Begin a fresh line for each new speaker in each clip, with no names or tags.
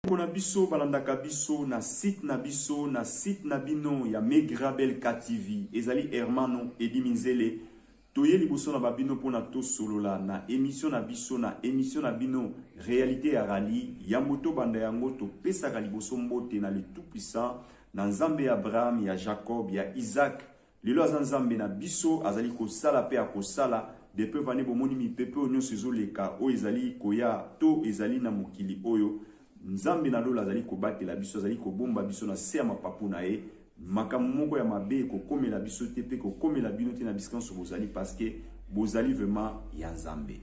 Bandeko na biso balandaka biso na site na biso na site na bino ya Megrabelkatv ezali Hermano Eddy Minzele toye liboso na ba bino pona tosolola na emission na biso na emission na bino realite ya rallye yambo tobanda yango topesaka liboso mbote na le tout puissant na Nzambe ya Abraham ya Jacob ya Isaac Lelo aza nzambe na biso azali kosala pe akosala depuis evandi bomoni mipepe oyo nyonso ezoleka oyo ezali koya to ezali na mokili oyo nzambe na lola azali kobatela biso azali kobomba biso na se ya mapapu na ye makambo moko ya mabe ekokomela biso te pe kokomela bino te na bisika nyonso bozali paske bozali vraiment ya nzambe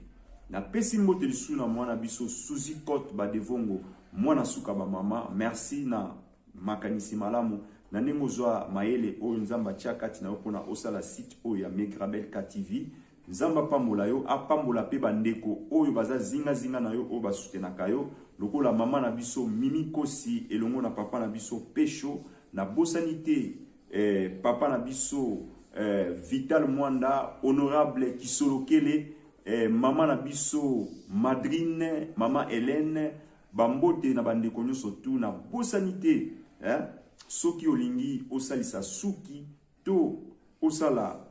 napesi mbote lisusu na mwana biso suzi cote badevongo mwana suka bamama merci na Makanisi malamu, Na ndenge ozwa mayele oyo Nzambe atia kati na yo pona osala site oyo ya Megrabelkatv. Nzambe apambola yo, apambola pe ba ndeko oyo baza zinga zinga na yo oyo ba soutenaka yo lokola maman na biso Mimi Kosi elongo na papa na biso Pesho. Na bosani te eh papa na biso eh Vital Muanda, Honorable Kisolokele eh maman na biso madrine maman Helene, Ba mbote na ba ndeko nionso tout na bosani te eh soki olingi osalisa suki to osala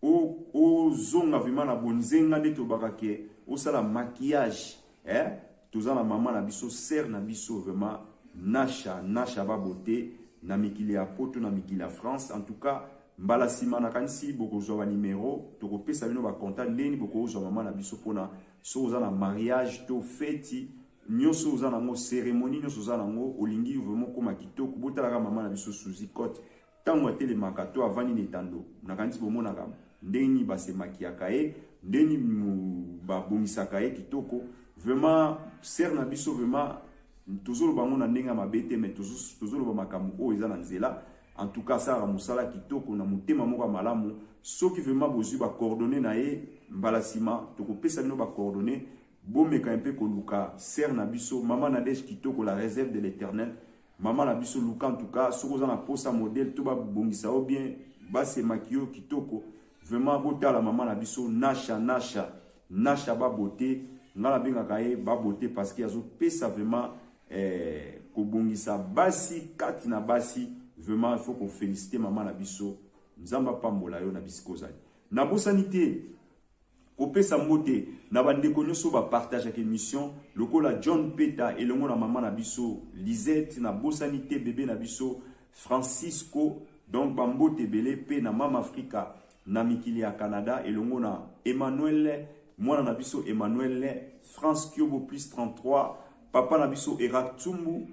o ozonga vraiment na bonzenga nde tolobaka ke osala maquillage eh toza na mama na biso sœur na biso vraiment Nasha Nasha ba beauté na mikili ya poto na mikili ya France en tout cas mbala nsima nakanisi bokozwa ba numero tokopesa bino ba contact ndeni bokozwa mama na biso mpona Soki oza na mariage to feti nyoso oza na ngo ceremonie nyoso oza na ngo olingi vraiment koma kitoko botala ka mama na biso Suzy Cote tango atelemaka to avandi na etando nakanisi bomonaka ndenge nini base makiyaka ye ndenge nini babongisaka ye kitoko vraiment sere na biso vraiment tozoloba yango na ndenge ya mabe te mais tozoloba makambo oyo eza na nzela En tout cas asala musala kitoko na motema moko malamu. Soki vraiment bozui ba coordonnées na ye mbala sima tokopesa bino ba coordonnées bomeka mpe koluka sœur na biso maman Nadège kitoko la réserve de l'éternel maman na biso luka en tout cas soki oza na posa modèle to babongisa yo bien base makiyo kitoko vraiment botala maman na biso Nasha Nasha Nasha ba beauté nga nabengaka ye ba beauté parce que azopesa vraiment Eh, kobongisa basi kati na basi vraiment il faut ko féliciter maman na biso nzambe apambola yo na bisika ozali nabosani te kopesa mbote na bandeko nyonso bapartageaka émission lokola john peta elongo na mama na biso lisette nabosani te bebe na biso francisco donc bambote ebele mpe na mama afrika na mikili ya Canada elongo na Emmanuel mwana na biso Emmanuel France Kiobo plus 33 papa na biso Erac Tsumbu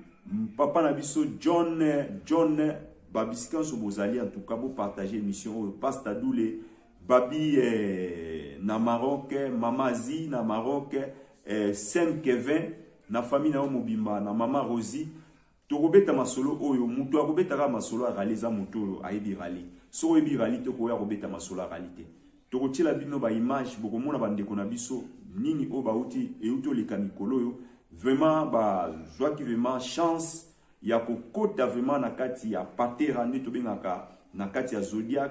papa na biso John John babisika nso bozali en tout cas bo partager émission oyo Pasta Doule Babi eh, na Maroc Mama Zi na Maroc eh, Saint Kevin na famille na yo mobimba na Mama Rosie Tokobeta masolo oyo mutu akobeta kaka masolo ya rallye eza mutu oyo ayebi rallye. Soki oyebi rallye te koya kobeta masolo ya rallye te. Tokotiela bino ba images bokomona ba ndeko na biso nini oyo bawuti ewuti oleka mikolo oyo vraiment ba zwaki vraiment chance ya kokota vraiment na kati ya patera nde tobengaka na kati ya zodiac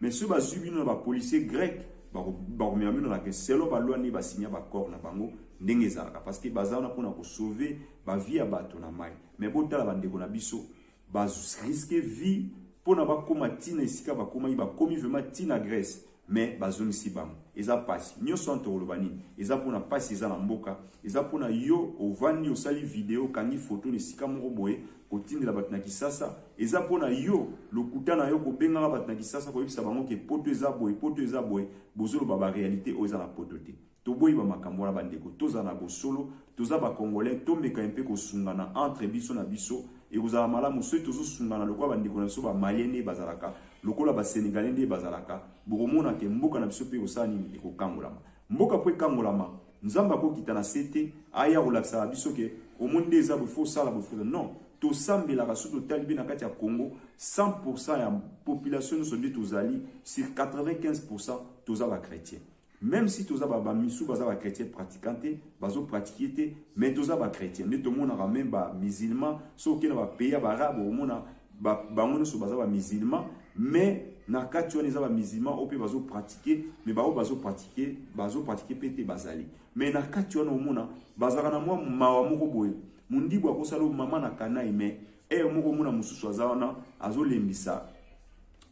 Mais soki bazui bino na ba policiers grecs, bakomema bino na ke selon ba loi nde ba signa ba accord na bango ndenge ezalaka parce que baza wana pona ko sauver ba vie ya bato na mayi. Mais botala ba ndeko na biso ba risque vie pona bakoma ti na esika bakomaki, bakomi vraiment ti na Grèce mais bazongisi bango. Eza pasi. Nionso wana tokoloba nini? Eza pona pasi eza na mboka, eza pona yo ovandi osali video okangi photo na esika moko boye Kotindela bato na kisasa eza pona yo lokuta na yo kobengaka bato na kisasa koyebisa bango ke poto eza boye poto eza boye bozoloba ba realite oyo eza na poto te toboyi ba makambo wana ba ndeko tozala na bosolo toza ba congolais tomeka mpe kosungana entre biso na biso ekozala malamu soki tozosungana lokola ba ndeko na biso ba malien nde bazalaka lokola ba senegalais nde bazalaka bokomona ke mboka na biso mpe ekosala nini ekokangolama mboka mpo ekangolama Nzambe ako kita na se te aya kolakisaka biso ke omoni nde eza boye faut sala boye non tosambelaka soki totali mpe na kati ya Congo 100% ya population nyonso nde tozali sur 95% toza ba chrétien même si toza ba bamisu baza ba chrétien pratiquant te bazo pratique te mais toza ba chrétien nde tomonaka même ba musulman soki okenda ba pays ya baarabe omona ba, bango nyonso baza ba musulman mais na kati wana eza ba musulman oyo mpe bazo pratique mais baoyo bazo pratique bazo pratique mpe te bazali mais na kati wana omona bazalaka na mwa mawa moko boye mondibu akosala mama na kanai mais ere moko omona mosusu aza wana azolembisa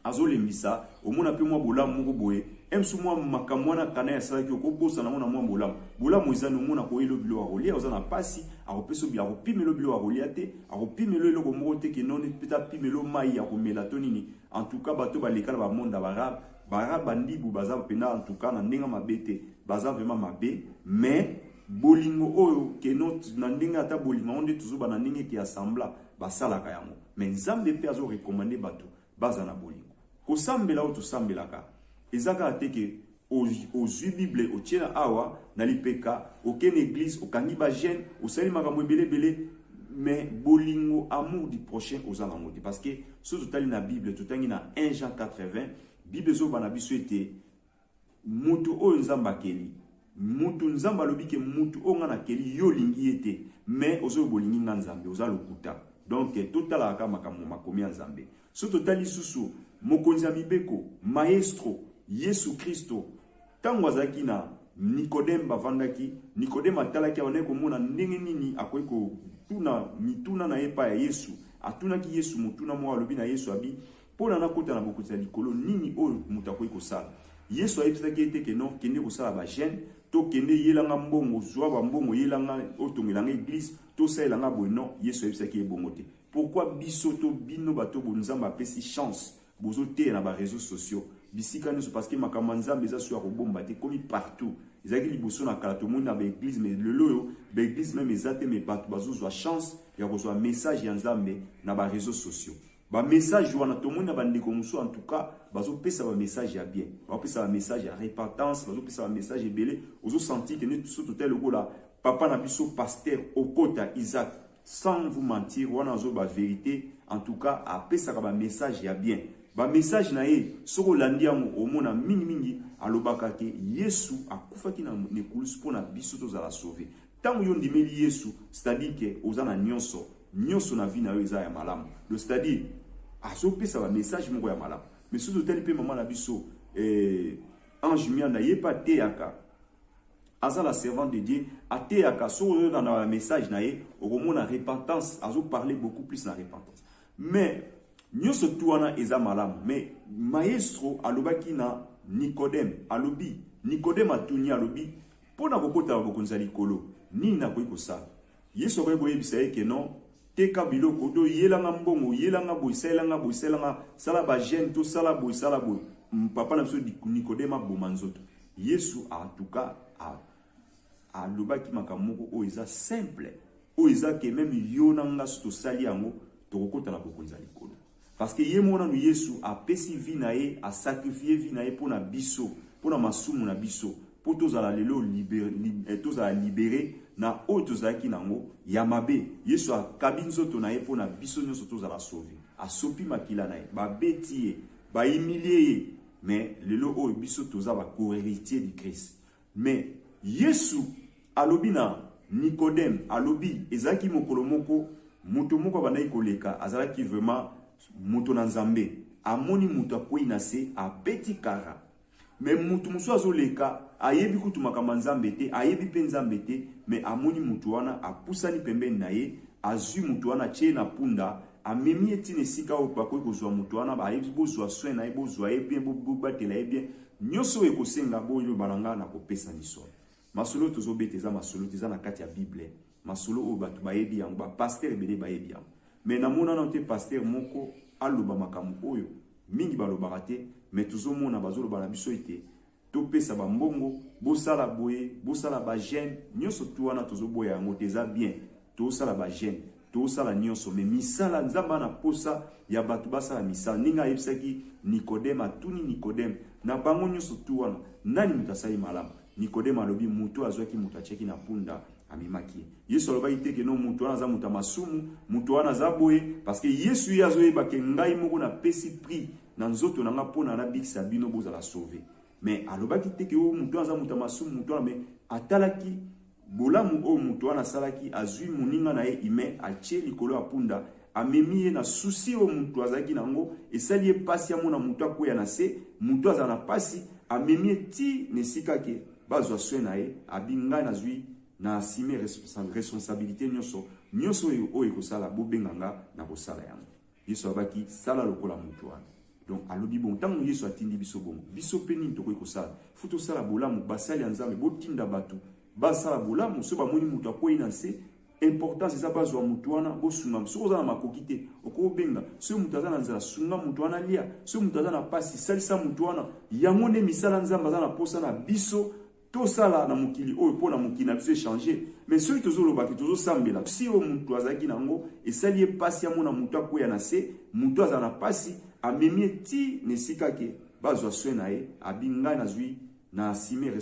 Azolembisa, omona pe mwa bolamu moko boye, ems mwa makambo wana Kanayi asalaki okobosana yango na mwa bolamu. Bolamu eza nini? Omona akoyeli yo biloko ya kolia, oza na pasi, akopesa yo, akopimela yo biloko ya kolia te, akopimela yo eloko moko te que noni, peut apimela yo mayi ya komela to nini. En tout cas, bato oyo baleka na ba monde ya ba arabe, ba arabe ba ndibu baza penza en tout cas na ndenge ya mabe te, baza vraiment mabe mais bolingo oyo que non na ndenge ata bolingo yango nde tozoba na ndenge que ya semblant basalaka yango mais Nzambe pe azo recommander bato Bazala na bolingo. Kosambela oyo tosambelaka eza kaka te ke ozui bible otie na awa na lipeka, okei na eglise, okangi ba jeune, osali makambo ebele ebele mais bolingo, amour du prochain oza na yango te parce que soki totali na bible totangi na 1 Jean 4 20 bible ezoloba na biso ete Moto oyo nzambe akeli. Mutu nzambe alobi ke mutu oyo nga na keli yo olingi ye te mais ozo loba olingi nga nzambe oza lokuta donc to tala kaka makambo ma makomi ya nzambe so to tali susu mokonzi ya mibeko maestro yesu kristo tango azalaki na nikodem bavandaki nikodem atalaki abandaki komona ndenge nini akoki kotuna mituna na ye pa ya yesu atunaki yesu motuna moko alobi na yesu abi Mpo na nakota na Bokonzi ya likolo, nini oyo moto akoki kosala? Yesu ayebisaki ye te ke non, kende kosala ba jeune, to kende yela nga mbongo, zwa ba mbongo yela nga, otongela nga eglise, to salela nga boye. Non, Yesu ayebisaki ye bongo te. Pourquoi biso to bino bato oyo bo Nzambe apesi chance bozo teya na ba reseaux sociaux bisika nionso? Parce que makambo ya Nzambe eza solo ya kobomba te, ekomi partout. Ezalaki liboso na kala tomoni na ba eglises, mais lelo oyo ba eglises meme eza te, mais bato bazo zwa chance ya kozwa message ya Nzambe na ba reseaux sociaux. Ba message wana tomoni na ba ndeko mosusu en tout cas bazo pesa ba message ya bien. Bazo pesa ba message ya repentance, bazo pesa ba message ebele. Ozo sentir que neti biso total lokola papa na biso pasteur Okota Isaac sans vous mentir wana azo ba verite en tout cas apesaka ba message ya bien. Ba message na ye soko olandi yango omona mingi mingi alobaka ke Yesu akufaki na nekulusi mpo na biso tozala sauve. Ntango yo ondimeli Yesu c'est-à-dire que oza na nyonso Nionso na vie na yo eza ya malamu donc c'est à dire azo pesa ba message moko ya malamu mais soki totali mpe mama na biso eh, Ange Mianda ye mpe ateyaka aza la servante de Dieu ateyaka soki oyoka na ba message na ye okomona repentance azo parler beaucoup plus na repentance mais nionso tu wana eza malamu mais maestro alobaki na Nicodème alobi Nicodème atuni alobi mpo na kokota na bokonzi ya likolo nini nakoki kosala Yesu akoki koyebisa ye que non, teka biloko to yela nga mbongo, yela nga boye, salela nga boye, salela nga, sala ba jeune to sala boye, sala boye. Papa na biso Nicodème aboma nzoto. Yesu a tout cas a alobaki makambo moko oyo eza simple, oyo eza que meme yo na nga so tosali yango tokokota na bokonzi ya likolo. Parce que ye moko nanu yesu apesi vie na ye a sacrifier vie na ye pona biso pona masumu na biso po tozala lelo libere tozala libere na oyo tozalaki na yango ya mabe yesu akabi nzoto na ye pona biso nionso tozala sauve asopi makila na ye babeti ye ba humilier ye mais lelo oyo biso toza ba co-heritier du christ Mais Yesu alobi na Nicodem, alobi ezalaki mokolo moko moto moko abandaki koleka, azalaki vraiment moto na Nzambe, amoni moto akweyi na se, abeti kara. Mais moto mosusu azoleka, ayebi kutu makambo ya Nzambe te, ayebi pe Nzambe te, mais amoni moto wana, apusani pembeni na ye, azui moto wana, atie ye na punda, Amemi ye tina esika oyo bakoki kozwa moto wana, bayebi bozwa soin na ye, bozwa ye bien, bobatela ye bien, nyoso oyo ekosenga boloba na nga nakopesa lisolo. Masolo oyo tozobeta eza masolo te, eza na kati ya bible, masolo oyo bato bayebi yango, ba pasteur ebele bayebi yango mais namona nano te pasteur moko aloba makambo oyo mingi balobaka te mais tozomona bazoloba na biso ete Topesa ba mbongo, bosala boye, bosala ba jeune, nionso tout wana tozoboya yango te, eza bien tosala ba jeune, tosala nionso mais misala Nzambe aza na posa ya batu basala misala ndenge ayebisaki Nicodème, atuni Nicodème na bango nionso tout wana nani moto asali malamu? Nicodème alobi moto oyo azwaki moto atiaki na punda amemaki ye. Yesu alobaki te ke no moto wana aza moto ya masumu, moto wana aza boye parce que Yesu ye azoyeba ke ngai moko napesi prix na nzoto na nga pona na bikisa bino bozala sauve mais alobaki te ke o oh, moto aza moto ya masumu moto wana mais atalaki bolamu oyo moto wana asalaki azwi moninga na ye ime atie likolo ya punda amemi ye na susi oyo moto azalaki na yango esali ye mpasi amona moto akweya na se moto azala na mpasi amemi ye ti na esika ke bazwa soin na ye abi ngai nazwi na asime responsabilité nyonso nyonso oyo oyo ekosala bobenga nga na kosala yango Yesu alobaki sala lokola moto wana. Donc alobi bon ntango Yesu atindi biso bongo, biso mpe nini tokoki kosala? Fo tosala bolamu, basali ya Nzambe, botinda bato basala bolamu. So bamoni moto akwei na nse, importance eza bazwa moto wana, bosunga. Soki oza na makoki te, okoki obenga. Soki moto aza na nzala, sunga moto wana alia. Soki moto aza na mpasi, salisa moto wana. Yango nde misala Nzambe aza na mposa na biso. Tosala na mokili oyo mpo na mokili na biso echange, me soki tozoloba ke tozosambela si oyo moto azalaki na yango esali ye mpasi amona moto akweya na se, moto azala na mpasi amemi ye ti na esika ke bazwa soin na ye, abi ngai nazwi na assumer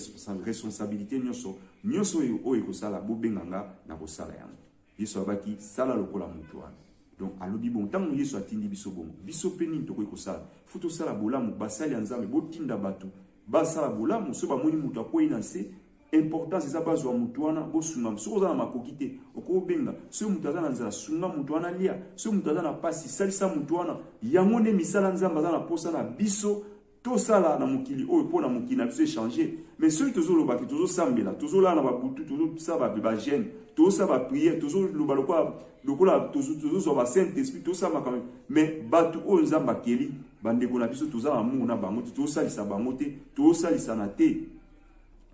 responsabilite nionso, nionso oyo oyo ekosala bobenga nga nakosala yango. Yesu alobaki sala lokola moto wana. Donc alobi bon ntango Yesu atindi biso bongo, biso mpe nini tokoki kosala? Fo tosala bolamu, basali ya Nzambe botinda bato basala bolamu, so bamoni moto akwei na nse importance eza bazwa moto wana bosunga soki oza na makoki te okoki obenga soki moto aza na nzela sunga moto wana lia soki moto aza na mpasi salisa moto wana yango nde misala nzambe aza na mposa na biso Tosala na mokili oyo pona mokili na biso e changer mais soki tozo loba ke tozo sambela tozo lala na ba butu tozo sa ba ba jeune tozo sa ba prière tozo loba lokola lokola tozo tozo zwa ba saint esprit tozo sa makambo mais batu oyo nzambe akeli ba ndeko na biso toza amour na bango te tozo salisa bango te tozo salisana te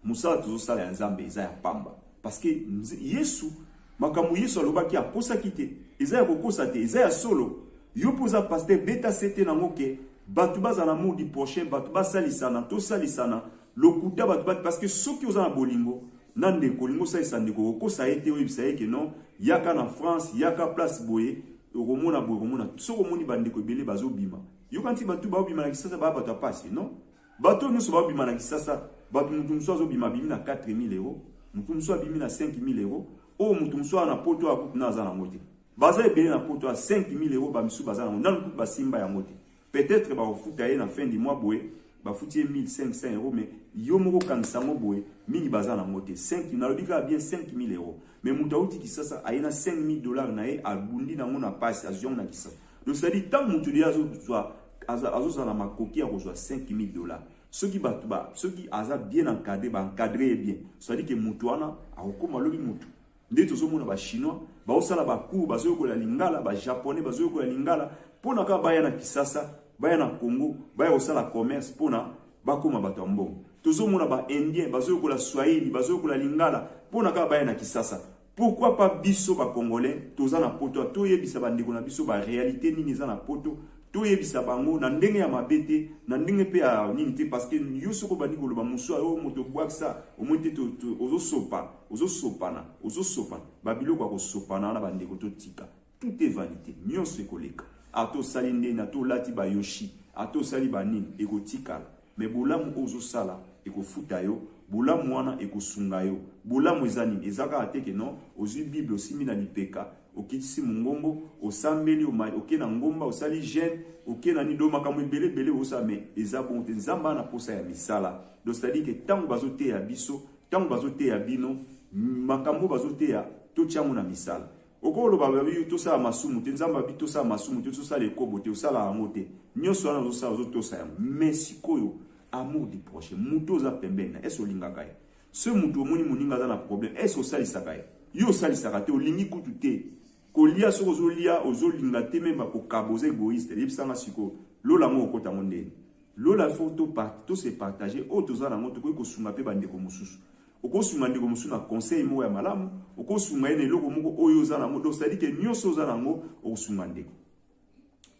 Mosala tozosala ya Nzambe eza ya pamba parce que Yesu makambo Yesu alobaki akosaki te, eza ya kokosa te, eza ya solo. Yo mpe oza pasteur, beta sete nango ke bato bazala mudi prochain, bato basalisana, tosalisana lokuta bato bati parce que soki oza na bolingo na ndeko olingi osalisa ndeko okosa ye te oyebisa ye ke non yaka na france yaka place boye okomona boye okomona soki omoni bandeko ebele bazobima yokanisi bato baobima na kisasa baya bato ya pasi non Bato oyo nionso babima na kisasa bato mutu mosusu azo bima abimi na 4000 euro mutu mosusu abimi na 5000 euro oyo mutu mosusu awa na poto awa kutu nanu aza nango te baza ebele na poto awa 5000 euro ba misusu baza nango nanu kutu basimba yango te peut etre bakofuta ye na fin du mois boye bafuti ye 1500 euro mais yo moko okangisa yango boye mingi baza nango te 5 nalobi kaka bien 5000 euro mais mutu awuti kisasa aye na 5000 dollars na ye abundi nango na pasi azwi yango na kisasa Donc c'est à dire tant mutu deja azo zwa azo zala makoki ya kozwa 5000 dollars soki batu ba soki aza bien encadré ba encadré ye bien c'est à dire que mutu wana akokoma lobi mutu nde tozomona ba chinois baosala ba cours bazoyokola lingala ba japonais bazoyokola lingala mpo na kaka baya na kisasa baya na congo baya kosala commerce mpo na bakoma bato ya mbongo tozomona ba indien bazoyokola swahili bazoyokola lingala mpo na kaka baya na kisasa Pourquoi pas biso ba congolais toza na poto to yebisa ba ndeko na biso ba realite nini eza na poto to yebisa bango na ndenge ya mabe te na ndenge pe ya nini te parce que yo soko bandi koloba musu ayo oh, moto bwakisa omoni te ozo sopa ozo sopana ozo sopana ba biloko ya kosopana wana ba ndeko to tika Tout est vanite, nionso ekoleka. Ata osali ndeni, ata olati ba yoshi, ata osali ba nini, ekotikala. Mais bolamu oyo ozosala, ekofuta yo, bolamu wana ekosunga yo. Bolamu eza nini? Eza kaka te que non, ozui bible, osimbi na lipeka, okitisi mongongo, osambeli, oma, oke na ngomba, osali jeune, oke na nini, donc makambo ebele ebele ozosala, mais eza bongo te. Nzambe aza na posa ya misala. Donc c'est à dire que tango bazoteya biso, tango bazoteya bino, makambo oyo bazoteya, totia yango na misala. Oko loba ba yo tosala masumu te nzambe abi tosala masumu te tosala ekobo te osala yango te nionso wana ozosala ozotosa yango mais sikoyo amour du prochain moto oza pembeni na ese olingaka ye se moto omoni moninga aza na problème ese osalisaka ye yo osalisaka te olingi kutu te kolia soki ozolia ozolinga te meme bakokaba oza egoïste yebisanga sikoyo lola yango okota yango ndeni Lola faut to part to se partager oyo toza nango tokoki kosunga pe ba ndeko mosusu okosunga ndeko mosusu na conseil moko ya malamu okosunga ye na eloko moko oyo oza nango donc c'est à dire que nionso oza nango okosunga ndeko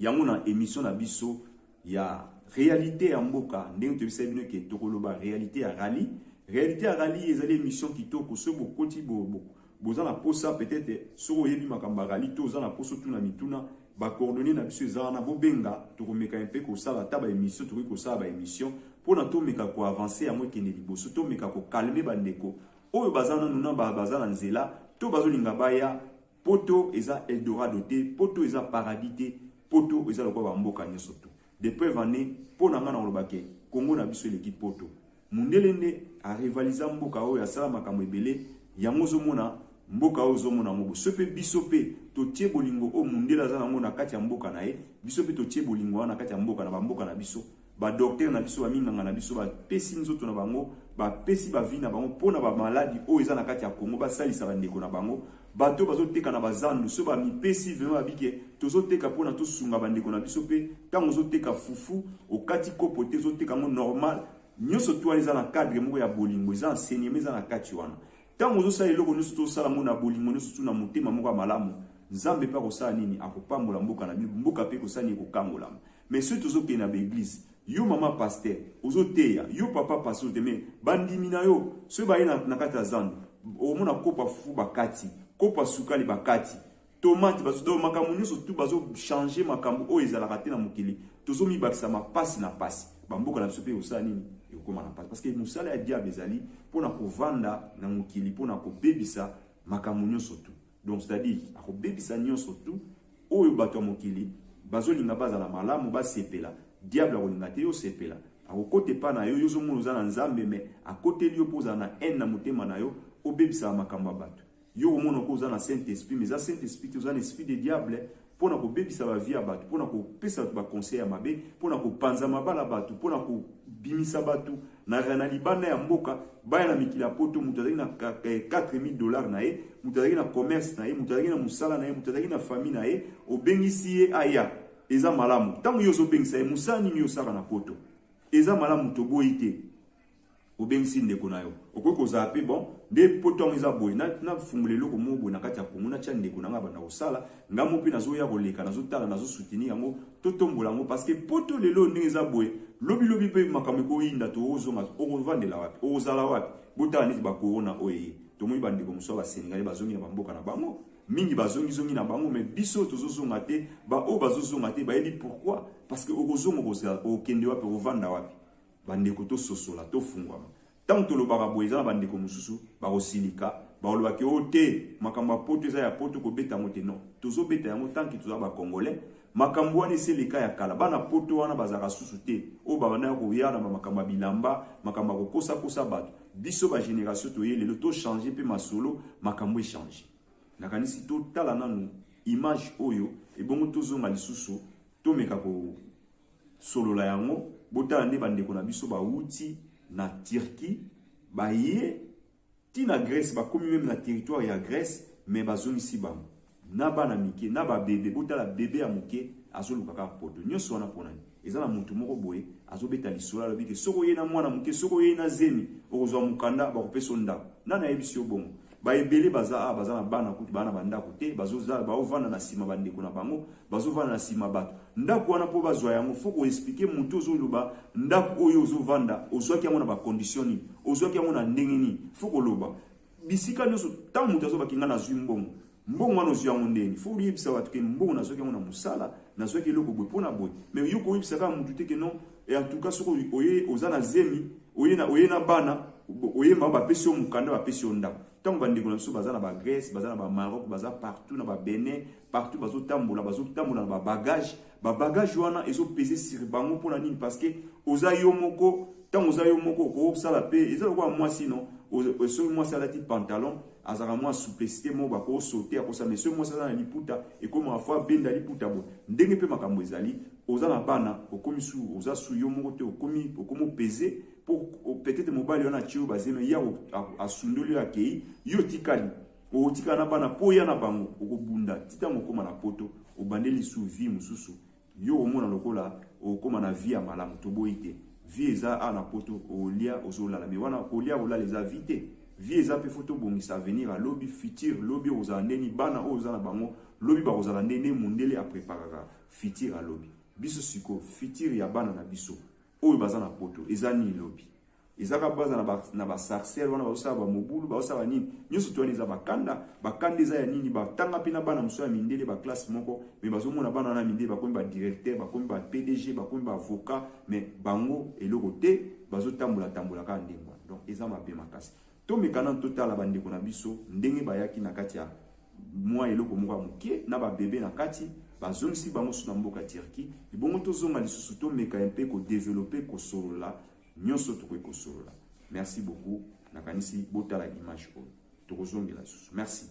yango na emission na biso ya realite ya mboka ndenge toyebisaki bino ke tokoloba realite ya rallye realite ya rallye ezali emission kitoko soki bokoti bo, bo, Boza na posa peut etre soki oyebi makambo ya rali to oza na posa otuna mituna ba coordonner na biso eza wana bobenga tokomeka mpe kosala ata ba emission tokoki kosala ba emission mpo na tomeka ko avancer yango ekende liboso tomeka ko calmer bandeko oyo baza nanu na baza na nzela to bazolinga baya poto eza eldorado te poto eza paradis te poto eza lokola bamboka nyonso to de preuve année mpo na ngai na kolobake kongo na biso eleki poto Mundele nde a rivalisa mboka oyo asala makambo ebele yango ozo mona mboka oyo ozo mona yango bo ce pe biso pe to tie bolingo oyo mundele aza nango na kati ya mboka naye biso pe to tie bolingo wana na kati ya mboka na ba mboka na biso ba docteur na biso ba minganga na biso ba pesi nzoto na bango ba pesi ba vie na bango pona ba maladi oyo eza na kati ya Congo ba salisa ba ndeko na bango Bato oyo bazo teka na ba zandu soki ba mipesi vraiment babi ke tozo teka pona to sunga ba ndeko na biso pe tango ozo teka fufu okati kopo te ozo teka yango normal nioso tu wana eza na cadre moko ya bolingo eza enseignement eza na kati wana tango ozo sala eloko nioso to sala yango na bolingo nioso tu na motema moko ya malamu nzambe pe akosala nini akopambola mboka na bino mboka pe ekosala nini ekokangolama. Mais soki tozo kende na ba eglise yo maman pasteur ozo teya yo papa pasteur te mais ba ndimi na yo soki ba ye na na kati ya zando oko mona kopa fufu ba kati kopa sukali ba kati tomate ba donc makambo nioso tout bazo changer makambo oyo ezalaka te na mokili tozo mi bakisa ma pasi na pasi ba mboka na biso pe osala nini ekokoma na pasi parce que musala ya diable ezali pona ko vanda na mokili pona ko bebisa makambo nioso tout Donc c'est-à-dire akobebisa nyonso tout oyo bato ya mokili bazolinga bazala malamu basepela diable akolinga te yo sepela akokota epa na yo yo ozomona oza na nzambe me akoteli yo mpo ozala na haine na motema na yo obebisaka makambo ya bato yo okomona ko oza na saint esprit mais eza saint esprit te oza na esprit de diable mpo na kobebisa ba vie ya bato, mpo na kopesa bato ba conseil ya mabe, mpo na kopanza mabala ya bato, mpo na kobimisa bato na na libanda ya mboka baya na mikili ya poto. Moto azalaki na 4000 dollars na ye, moto azalaki na commerce na ye, moto azalaki na mosala na ye, moto azalaki na famille na ye, obengisi ye aya, eza malamu. Ntango yo ozobengisa ye, mosala nini yo osalaka na poto? Eza malamu, toboyi te. obengisi ndeko na yo okoki kozala mpe bon nde mpo ntango eza boye nafungola eloko moko boye na kati ya kongo natya ndeko na ngai banda kosala ngai mo mpe nazoya koleka nazotala nazosutini yango totombola yango parceke poto lelo ndenge eza boye lobilobi mpe makambo ekoyinda toozonga okovandela wapi okozala wapi botala neti bakorona oyo eye tomoni bandeko mosusu ya basenegale bazongi na bamboka na bango mingi bazongizongi na bango me biso tozozonga te baoyo bazozonga te bayebi pourkui parceke okozonga okokende wapi okovanda wapi Bandeko tososola, tofungwama. Ntango tolobaka boye, eza na bandeko mosusu bakosilika, bakoloba ke o oh, te, makambo ya poto eza ya poto, kobeta yango te. Non, tozobeta yango tanki toza ba Congolais. Makambo wana esi eleka ya kala, bana poto wana bazalaka susu te, oyo babandaki koya na makambo ya bilamba, makambo ya kokosakosa bato. Biso ba generation toye lelo tochange mpe masolo, makambo echange. Nakanisi totala nanu image oyo, ebongo tozonga lisusu, tomeka ko solola yango botala nde bandeko na biso bawuti na Turquie baye ti na Grèce bakomi meme na territoire ya Grèce mais bazongisi bango na bana mike na babebe botala bebe ya moke azoluka kaka poto nyonso wana mpo nani eza na motu moko boye azobeta lisolo alobi ke soki oyei na mwana moke soki oyei na zemi okozwa mokanda bakopesa yo ndako nani ayebisi yo bongo ba ebele baza a baza na bana kutu bana ba ndako te bazo za ba ovanda na sima ba ndeko na bango bazo vanda na sima bato ndako wana po bazwa yango faut ko expliquer mutu ozo loba ndako oyo ozo vanda ozwaki yango na ba conditions nini ozwaki yango na ndenge nini faut ko loba bisika nyoso tant mutu azo bakinga na zwi mbongo mbongo wana ozwi yango ndenge fo oyebisa bato ke mbongo nazwaki yango na mosala nazwaki eloko boye mpo na boye me yo koyebisa kaka motu te ke non Et en tout cas, ce que oye, oza na zemi, oye na, oye na bana, oye ma ba pesi yo mukanda, ba pesi yo ndako. Tango ba ndeko na biso baza na ba Grèce, baza na ba Maroc, baza partout na ba Benin, partout bazo tambola, bazo tambola na ba bagages. Ba bagages wana ezo peser sur bango pona nini? Parce que oza yo moko, tango oza yo moko, oko sala pe, eza lokola mwasi non, soki mwasi alati pantalon, Azalaka mua souplecite moko ba ko sauter ako sa mais soki mwasi aza na liputa ekomaka faut abenda liputa boye ndenge pe makambo ezali oza na bana okomi su oza su yo moko te okomi okomo peze po peut-etre mobali wana atie yo bazeme ye asundoli yo akei yo otikali okotikala na bana po ya na bango okobunda ti ntango okoma na poto obandeli su vie mosusu Yo omona lokola okoma na vie ya malamu toboyi te vie eza awa na poto olia ozolala mais wana kolia kolala eza vie te vie eza mpe faut tobongisa avenir ya lobi futur lobi okozala ndeni bana oyo oza na bango lobi bakozala nde nde mundele apreparaka futur ya lobi biso siko futur ya bana na biso oyo baza na poto eza nini lobi ezaka baza na ba na ba sarcelle wana bazosala ba mobulu bazosala nini nyonso to wana eza bakanda bakanda eza ya nini batanga mpe na bana mosusu ya mindele ba classe moko me bazomona bana wana mindele bakomi ba directeur bakomi ba pdg bakomi ba avocat me bango eloko te bazotambola tambola kaka ndenge wana donc eza mabe makasi Tomeka nanu totala bandeko na biso ndenge bayaki na kati ya mwa eloko moko ya moke na ba bebe na kati, bazongisi bango lisusu na mboka Turquie, ebongo tozonga lisusu tomeka un peu ko developper kosolola nionso tokoki kosolola. Merci beaucoup, nakanisi botala image oyo. Tokozongela lisusu. Merci.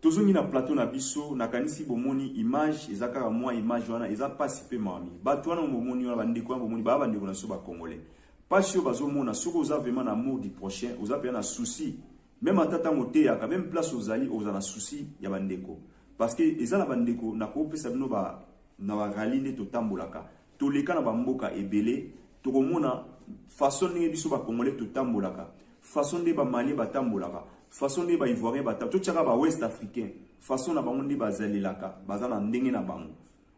Tozongi
na plateau na biso, nakanisi bomoni image, eza kaka mua image wana, eza pasi pe mawa mingi. Batu wana oyo bomoni wana, ba ndeko wana bomoni, baza ba ndeko na biso ba congolais. Pasi oyo bazomona, soki oza vraiment na amour du prochain, oza penza na souci, meme ata tango oteyaka, meme place ozali, okozala na souci ya ba ndeko. Parce que eza na ba ndeko, nakopesa bino ba na ba rallyes nde totambolaka, Toleka na ba mboka ebele tokomona façon ndenge biso ba congolais totambolaka, façon nde ba maliens batambolaka, façon nde ba ivoiriens batambolaka, totiaka ba ouest africains façon na bango nde bazalelaka, baza na ndenge na bango.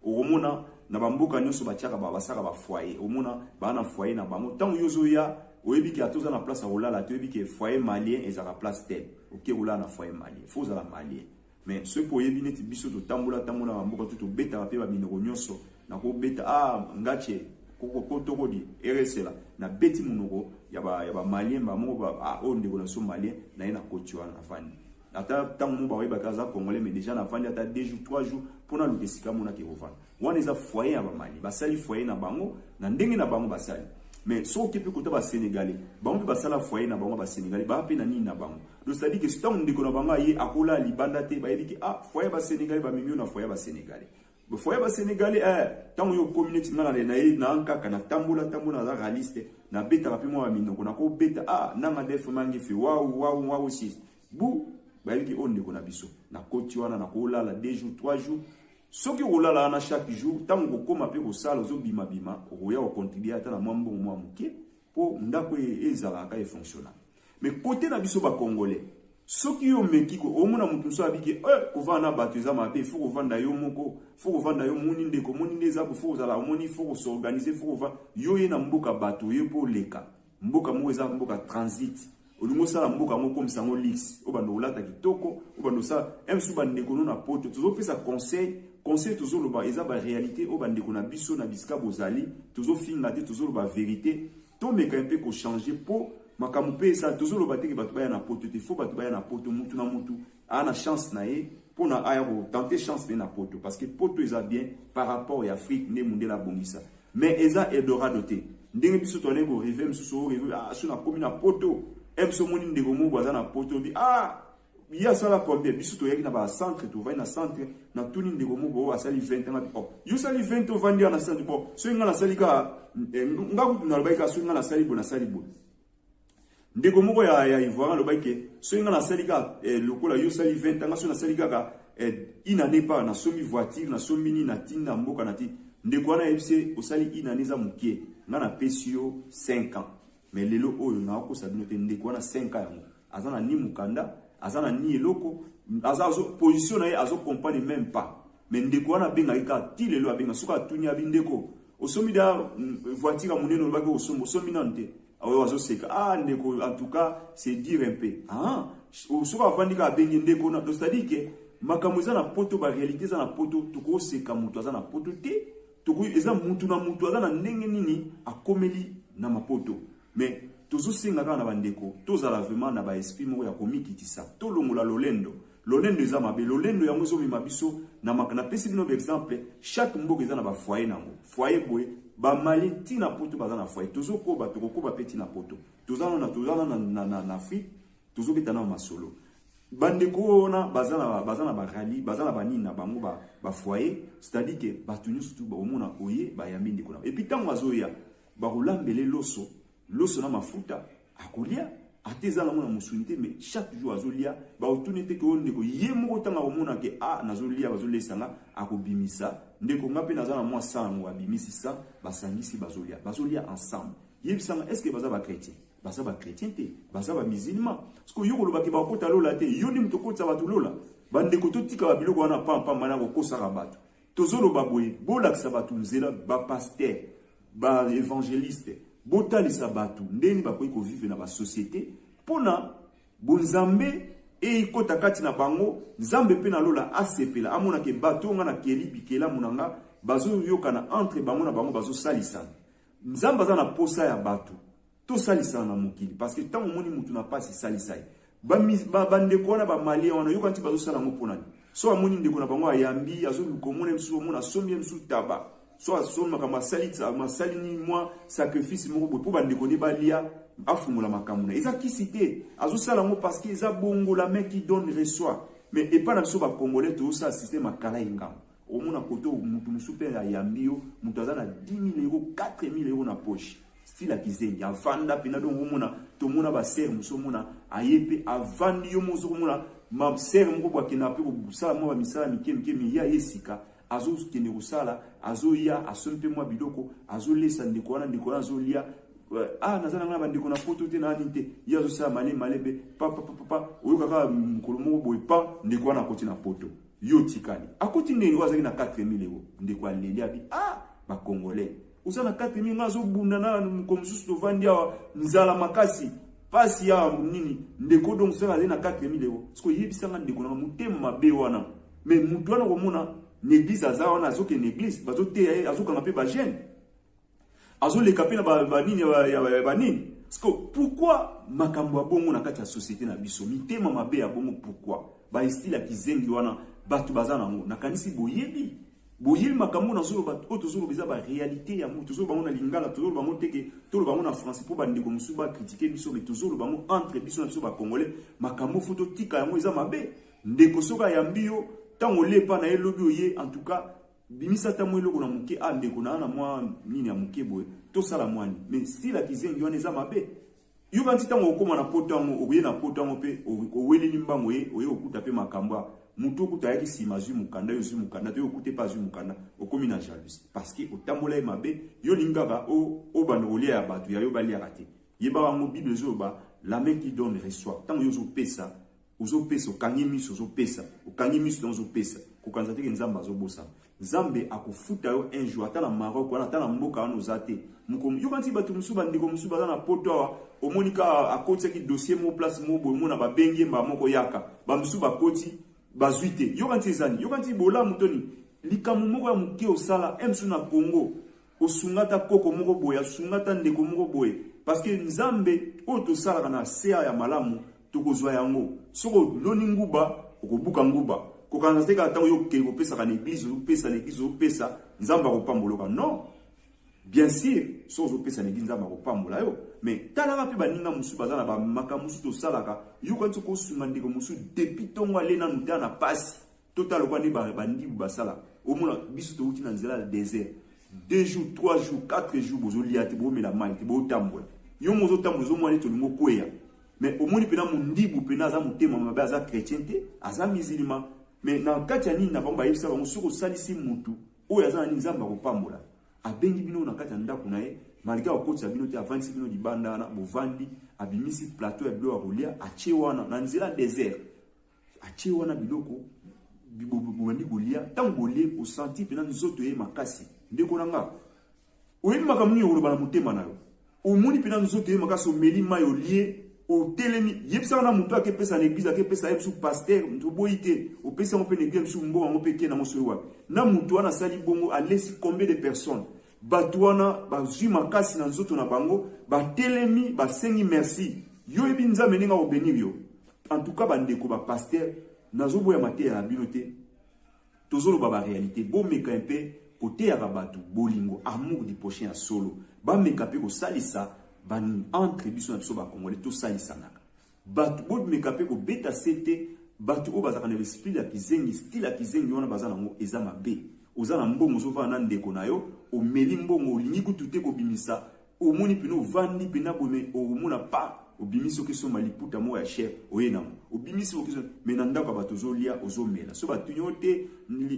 Okomona na ba mboka nyonso batiaka ba basaka ba foyer, omona ba na foyer na bango. Tango yo ozoya oyebi ke atoza na place ya kolala te, oyebi ke foyer malien ezalaka place tel, oke kolala na foyer malien, faut ozala malien. Mais soki mpe oyebi neti biso totambola tambola na bamboka tu tobetaka mpe baminoko nyonso na kobeta a ah, ngache kokokotokodi eresela na beti monoko ya bamalien bamoko ba, ah, oyo ndeko na biso malien na ye na koti wana nafandi ata ntango moko bakoyeba te aza congolais mais deja nafandi ata 2 jours 3 jours mpo naluka esika monaka ekofanda Wana eza foyer ya ba Mali. Basali foyer na bango na ndenge na bango basali. Mais soki oke mpe kota ba Senegalais, bango mpe basala foyer na bango ba Senegalais, baya mpe na nini na bango. Donc c'est à dire que ntango ndeko na bango aye akola libanda te, bayebi ke ah foyer ba Senegalais bamemi yo na foyer ba Senegalais. Ba foyer ba Senegalais eh ntango yo okomi neti nga na ye na nkaka na tambola tambola naza realiste na betaka mpe mwa minoko na kobeta ah nanga def mangefe wawu wawu wawu sis bu bayebi ke oyo ndeko na biso na koti wana na kolala 2 jours 3 jours Soki okolala wana chaque jour, ntango okokoma mpe kosala ozobimabima, okoya kocontribue ata na mwa mbongo mwa moke mpo ndako e, ezala kaka efonctionnaka. Mais kote na biso bacongolais, soki yo omeki omona moto mosusu abiki e eh, kovanda na bato eza mabe, fo kovanda yo moko, fo kovanda yo omoni ndeko, omoni nde eza fo kozala, omoni fo kosorganize, fo kovanda yo ye na mboka bato oye mpo oleka Mboka moko eza mboka transit. Olingo sala mboka moko comme sango lix. Obanda olata kitoko, obanda sala même sous bande kono na poto. Tozo pesa conseil, conseil tozo loba eza ba realite o bande kona biso na bisika bozali. Tozo finga te tozo loba verite. To meka un peu ko changer po makambo pe esa tozo loba te ke batu baya na poto te. Faut batu baya na poto mutu na mutu. aa na chance na ye pona aya ko tenter chance na ye na poto parce que poto eza bien par rapport ya afrique nde mundele abongisa mais eza eldorado te ndenge biso toalei ko reve mosusu o reve ah so nakomi na poto e biso omoni ndeko moko aza na poto obi ah ye asala combien biso toyaki na bacentre tovandi na centre natuni ndeko moko oyo asali 20 anga bi oh, yo osali 20 ovandi ya na centre bo soki ngai nasali kaka eh, ngai kutu nalobaki kaka soki ngai nasali bo nasali bo ndeko moko ya, ya ivoirien alobaki ke soki ngai nasali kaka eh, lokola yo osali 20 ans soki nasali kaka eh, une année par nasombi voiture nasombi nini natindi na mboka na ti ndeko wana ayebisi ye osali une année eza mokie ngai napesi yo 5 ans me lelo oyo nakokosa bino te ndeko wana 5 ans yango aza na ni mokanda aza na ni eloko aza azo position na ye azo comprendre même pas Mais ndeko wana abengaki kaka ti lelo abenga soki atuni abi ndeko osombi da mm, voiture ya monene olobaki osombi osombi nanu te aoyo azoseka ah ndeko en tout cas c'est dire un peu ah soki avandi kaka abengi ndeko na c'est-à-dire que makambo eza na poto ba réalité eza na poto tokoseka moto aza na poto te tokoki eza mutu na mutu aza na ndenge nini akomeli na mapoto Mais tozo senga kaka na ba ndeko tozala vraiment na ba esprit moko ya komikitisa. Tolongola lolendo. Lolendo eza mabe. Lolendo yango ezo mema biso na mak na pesi bino ba exemple chaque mboka eza na ba foyer nango. Foyer boye ba mali ti na poto baza na foyer. Tozo koba toko koba pe ti na poto. Toza na toza na na na, na Afrique tozo beta na masolo. Ba ndeko wana baza na baza na ba rallye, baza na ba nini na bango ba ba foyer, c'est-à-dire que batu nyoso tu ba omona oye ba yambi ndeko na. Et puis tango azoya bakolambele loso loso na mafuta akolia ata eza nango na mosuni te mais chaque jour azolia baotuni ete ke oyo ndeko ye moko ntango akomona ke a ah, nazolia bazolesa nga akobimisa ndeko nga mpe naza na mwa sa yango abimisi sa basangisi bazolia bazolia ensemble yebisanga est ce que baza bachrétien baza bachrétien te baza bamusilma siko yo kolobaki bakota lola te yo nde moto okotisa bato lola bandeko totikaka biloko wana pampamba na kokosaka bato Tozo loba boye bolakisa batu nzela ba pasteur ba evangeliste botalisa batu ndenge bakoki ko vivre na ba societe pona bonzambe ekota kati na bango nzambe pe na lola asepela amona ke batu nga na keli bikelamu na nga bazo yokana entre bango na bango bazo salisana nzambe aza na posa ya batu Tosalisana na mokili parce que ntango omoni motu na mpasi salisa ye. Bandeko wana bamalia wana yoka nti bazosala yango mpo nani? So amoni ndeko na bango ayambi, azoluka omona ye mosusu, omona asombi ye mosusu taba, so asombi makambo asali asali nini mwa sacrifice moko boye mpo bandeko nde balia afungola makambo na eza kisi te azosala yango parce que eza bongo la main qui donne reçoit mais epai na biso bakongole tozosala systeme akala engambo Omona koto mutu musu pe ayambi yo mutu aza na 10000 euro 4000 euro na poche sila kizengi avanda pena donc omona tomona ba sœur musu omona aye pe avandi yo mozo komona ma sœur moko bwa kenda pe kosala mwa ba misala mike mike me ya ye sika azo kende kosala azo ya asombi pe mwa biloko azo lesa ndeko wana ndeko wana azo lia ah naza na ngai na bandeko na poto te na nini te ye azosala male male be papa papa oyokaka mokolo moko boye pa ndeko wana akoti na poto Yo otikali. Akoti ndenge oyo azaki na 4000 euros. Ndeko aleli abi ah ba congolais. Oza na 4000 nga azo bunda na mko mosusu tovandi awa nzala makasi. Pasi ya nini? Ndeko donc sala na 4000 euros. Siko yebisa nga ndeko na motema mabe wana. Mais mutu wana komona n'eglise aza wana azoke n'eglise bazoteya ye azokanga mpe ba jeune Azo leka pe na ba, ba nini ya, ya, ya ba nini? Siko pourquoi makambo ya bongo na kati ya societe na biso? Mitema mabe ya bongo pourquoi? Ba estile ya kizengi wana bato baza na yango. Nakanisi boyebi boyebi makambo nazoloba oyo tozoloba eza barealité yango tozoloba yango na lingala tozoloba yango teke toloba yango na français mpo bandeko mosusu bakritike biso me tozoloba yango entre biso na biso bacongolais makambo fo totika yango eza mabe ndeko soki ayambi yo ntango olepa na ye lobi oye en tout cas Bimisa ata mwa eloko na moke ah ndeko naa na mwa nini ya moke boye tosala mwani mais style ya kizengi wana eza mabe yo kanisi ntango okoma na poto yango oye na poto yango mpe oweleli mbango ye oye okuta mpe makambo ya motu okuta ayaki nsima azwi mokanda yo ozwi mokanda te yo okute mpe azwi mokanda okomi na jalousie parce que otambola ye mabe yo olingi kaka obanda kolia ya bato ya yo baliaka te yebaka yango bible ezoloba la main qui donne reçoit ntango yo ozopesa Ozo pesa okangi misu ozo pesa okangi misu na ozo pesa kokanisa te ke nzambe azo bosana nzambe akofuta yo un jour ata na Maroc wana ata na mboka wana oza te moko yokanisi batu musu ba ndeko musu baza na poto awa omoni ka akotisaki dossier mo place mo boye mona ba bengi ye mbala moko yaka ba musu bakoti bazwi te yokanisi ezani yokanisi bolamu toni likambo moko ya moke osala un musu na Congo Osunga ata koko moko boye, asunga ata ndeko moko boye, parce que Nzambe oyo tosalaka na CA ya malamu, tokozwa yango. Soki oloni nguba, okobuka nguba. Kokanisa te kaka tango yo okei kopesaka na eglise, ozopesa na eglise, ozopesa, Nzambe akopambola yoka. Non! Bien sur, soki ozopesa na eglise, Nzambe akopambola yo. Mais talaka pe baninga mosusu baza na ba makambo mosusu tosalaka, yoka neti okosunga ndeko mosusu depuis tongo alie nanu te, aza na pasi. Totala lokola nde ba bandibu basala. Omona biso towuti na nzela ya desert. Deux jours, trois jours, quatre jours bozolia te, bomela mai te, botambola. Yo moko ozotambola ozomona neti olingi okweya. Mais omoni pena mondibu pena aza motema mabe aza chrétien te, aza musulman. Mais na kati ya nini na bango bayebisa bango soki osalisi mutu oyo aza na nini Nzambe akopambola. Abengi bino na kati ya ndako na ye malgré akokotisa bino te avandisi bino libanda wana bovandi abimisi plateau ya bilo ya kolia atie wana na nzela desert atie wana biloko bobandi kolia ntango bolie osanti mpena nzoto ye makasi ndeko na nga oyebi makambo nini okoloba na motema na yo omoni mpena nzoto ye makasi omeli mai olie otelemi yebisaka na moto ake pesa na eglize ake pesa ye bisu paster moto oboyi te opesi yango mpe na eglize bisu mbongo yango mpe eke nango soki wapi na moto wana asali bongo alesi combien de personnes Bato wana bazwi makasi na nzoto na bango, batelemi, basengi merci. Yo oyebi Nzambe ndenge ako benir yo? En tout cas ba ndeko ba pasteurs, nazoboya mateya na bino te. Tozoloba ba realite, bomeka un peu koteyaka bato bolingo, amour du prochain ya solo. Bameka mpe kosalisa ba entre biso na biso ba congolais tosalisanaka. Batu bo meka pe ko beta sete batu oyo bazalaka na l'esprit ya kizengi style ya kizengi wana baza na ngo eza mabe oza na mbongo ozo vanda na ndeko na yo omeli mbongo olingi kutu te ko bimisa omoni pena ovandi pena boye me omona pa obimisi oke somba liputa moko ya cher oye na ngo obimisi oke somba me na ndako ya batu ozo lia ozo mela so batu nyo te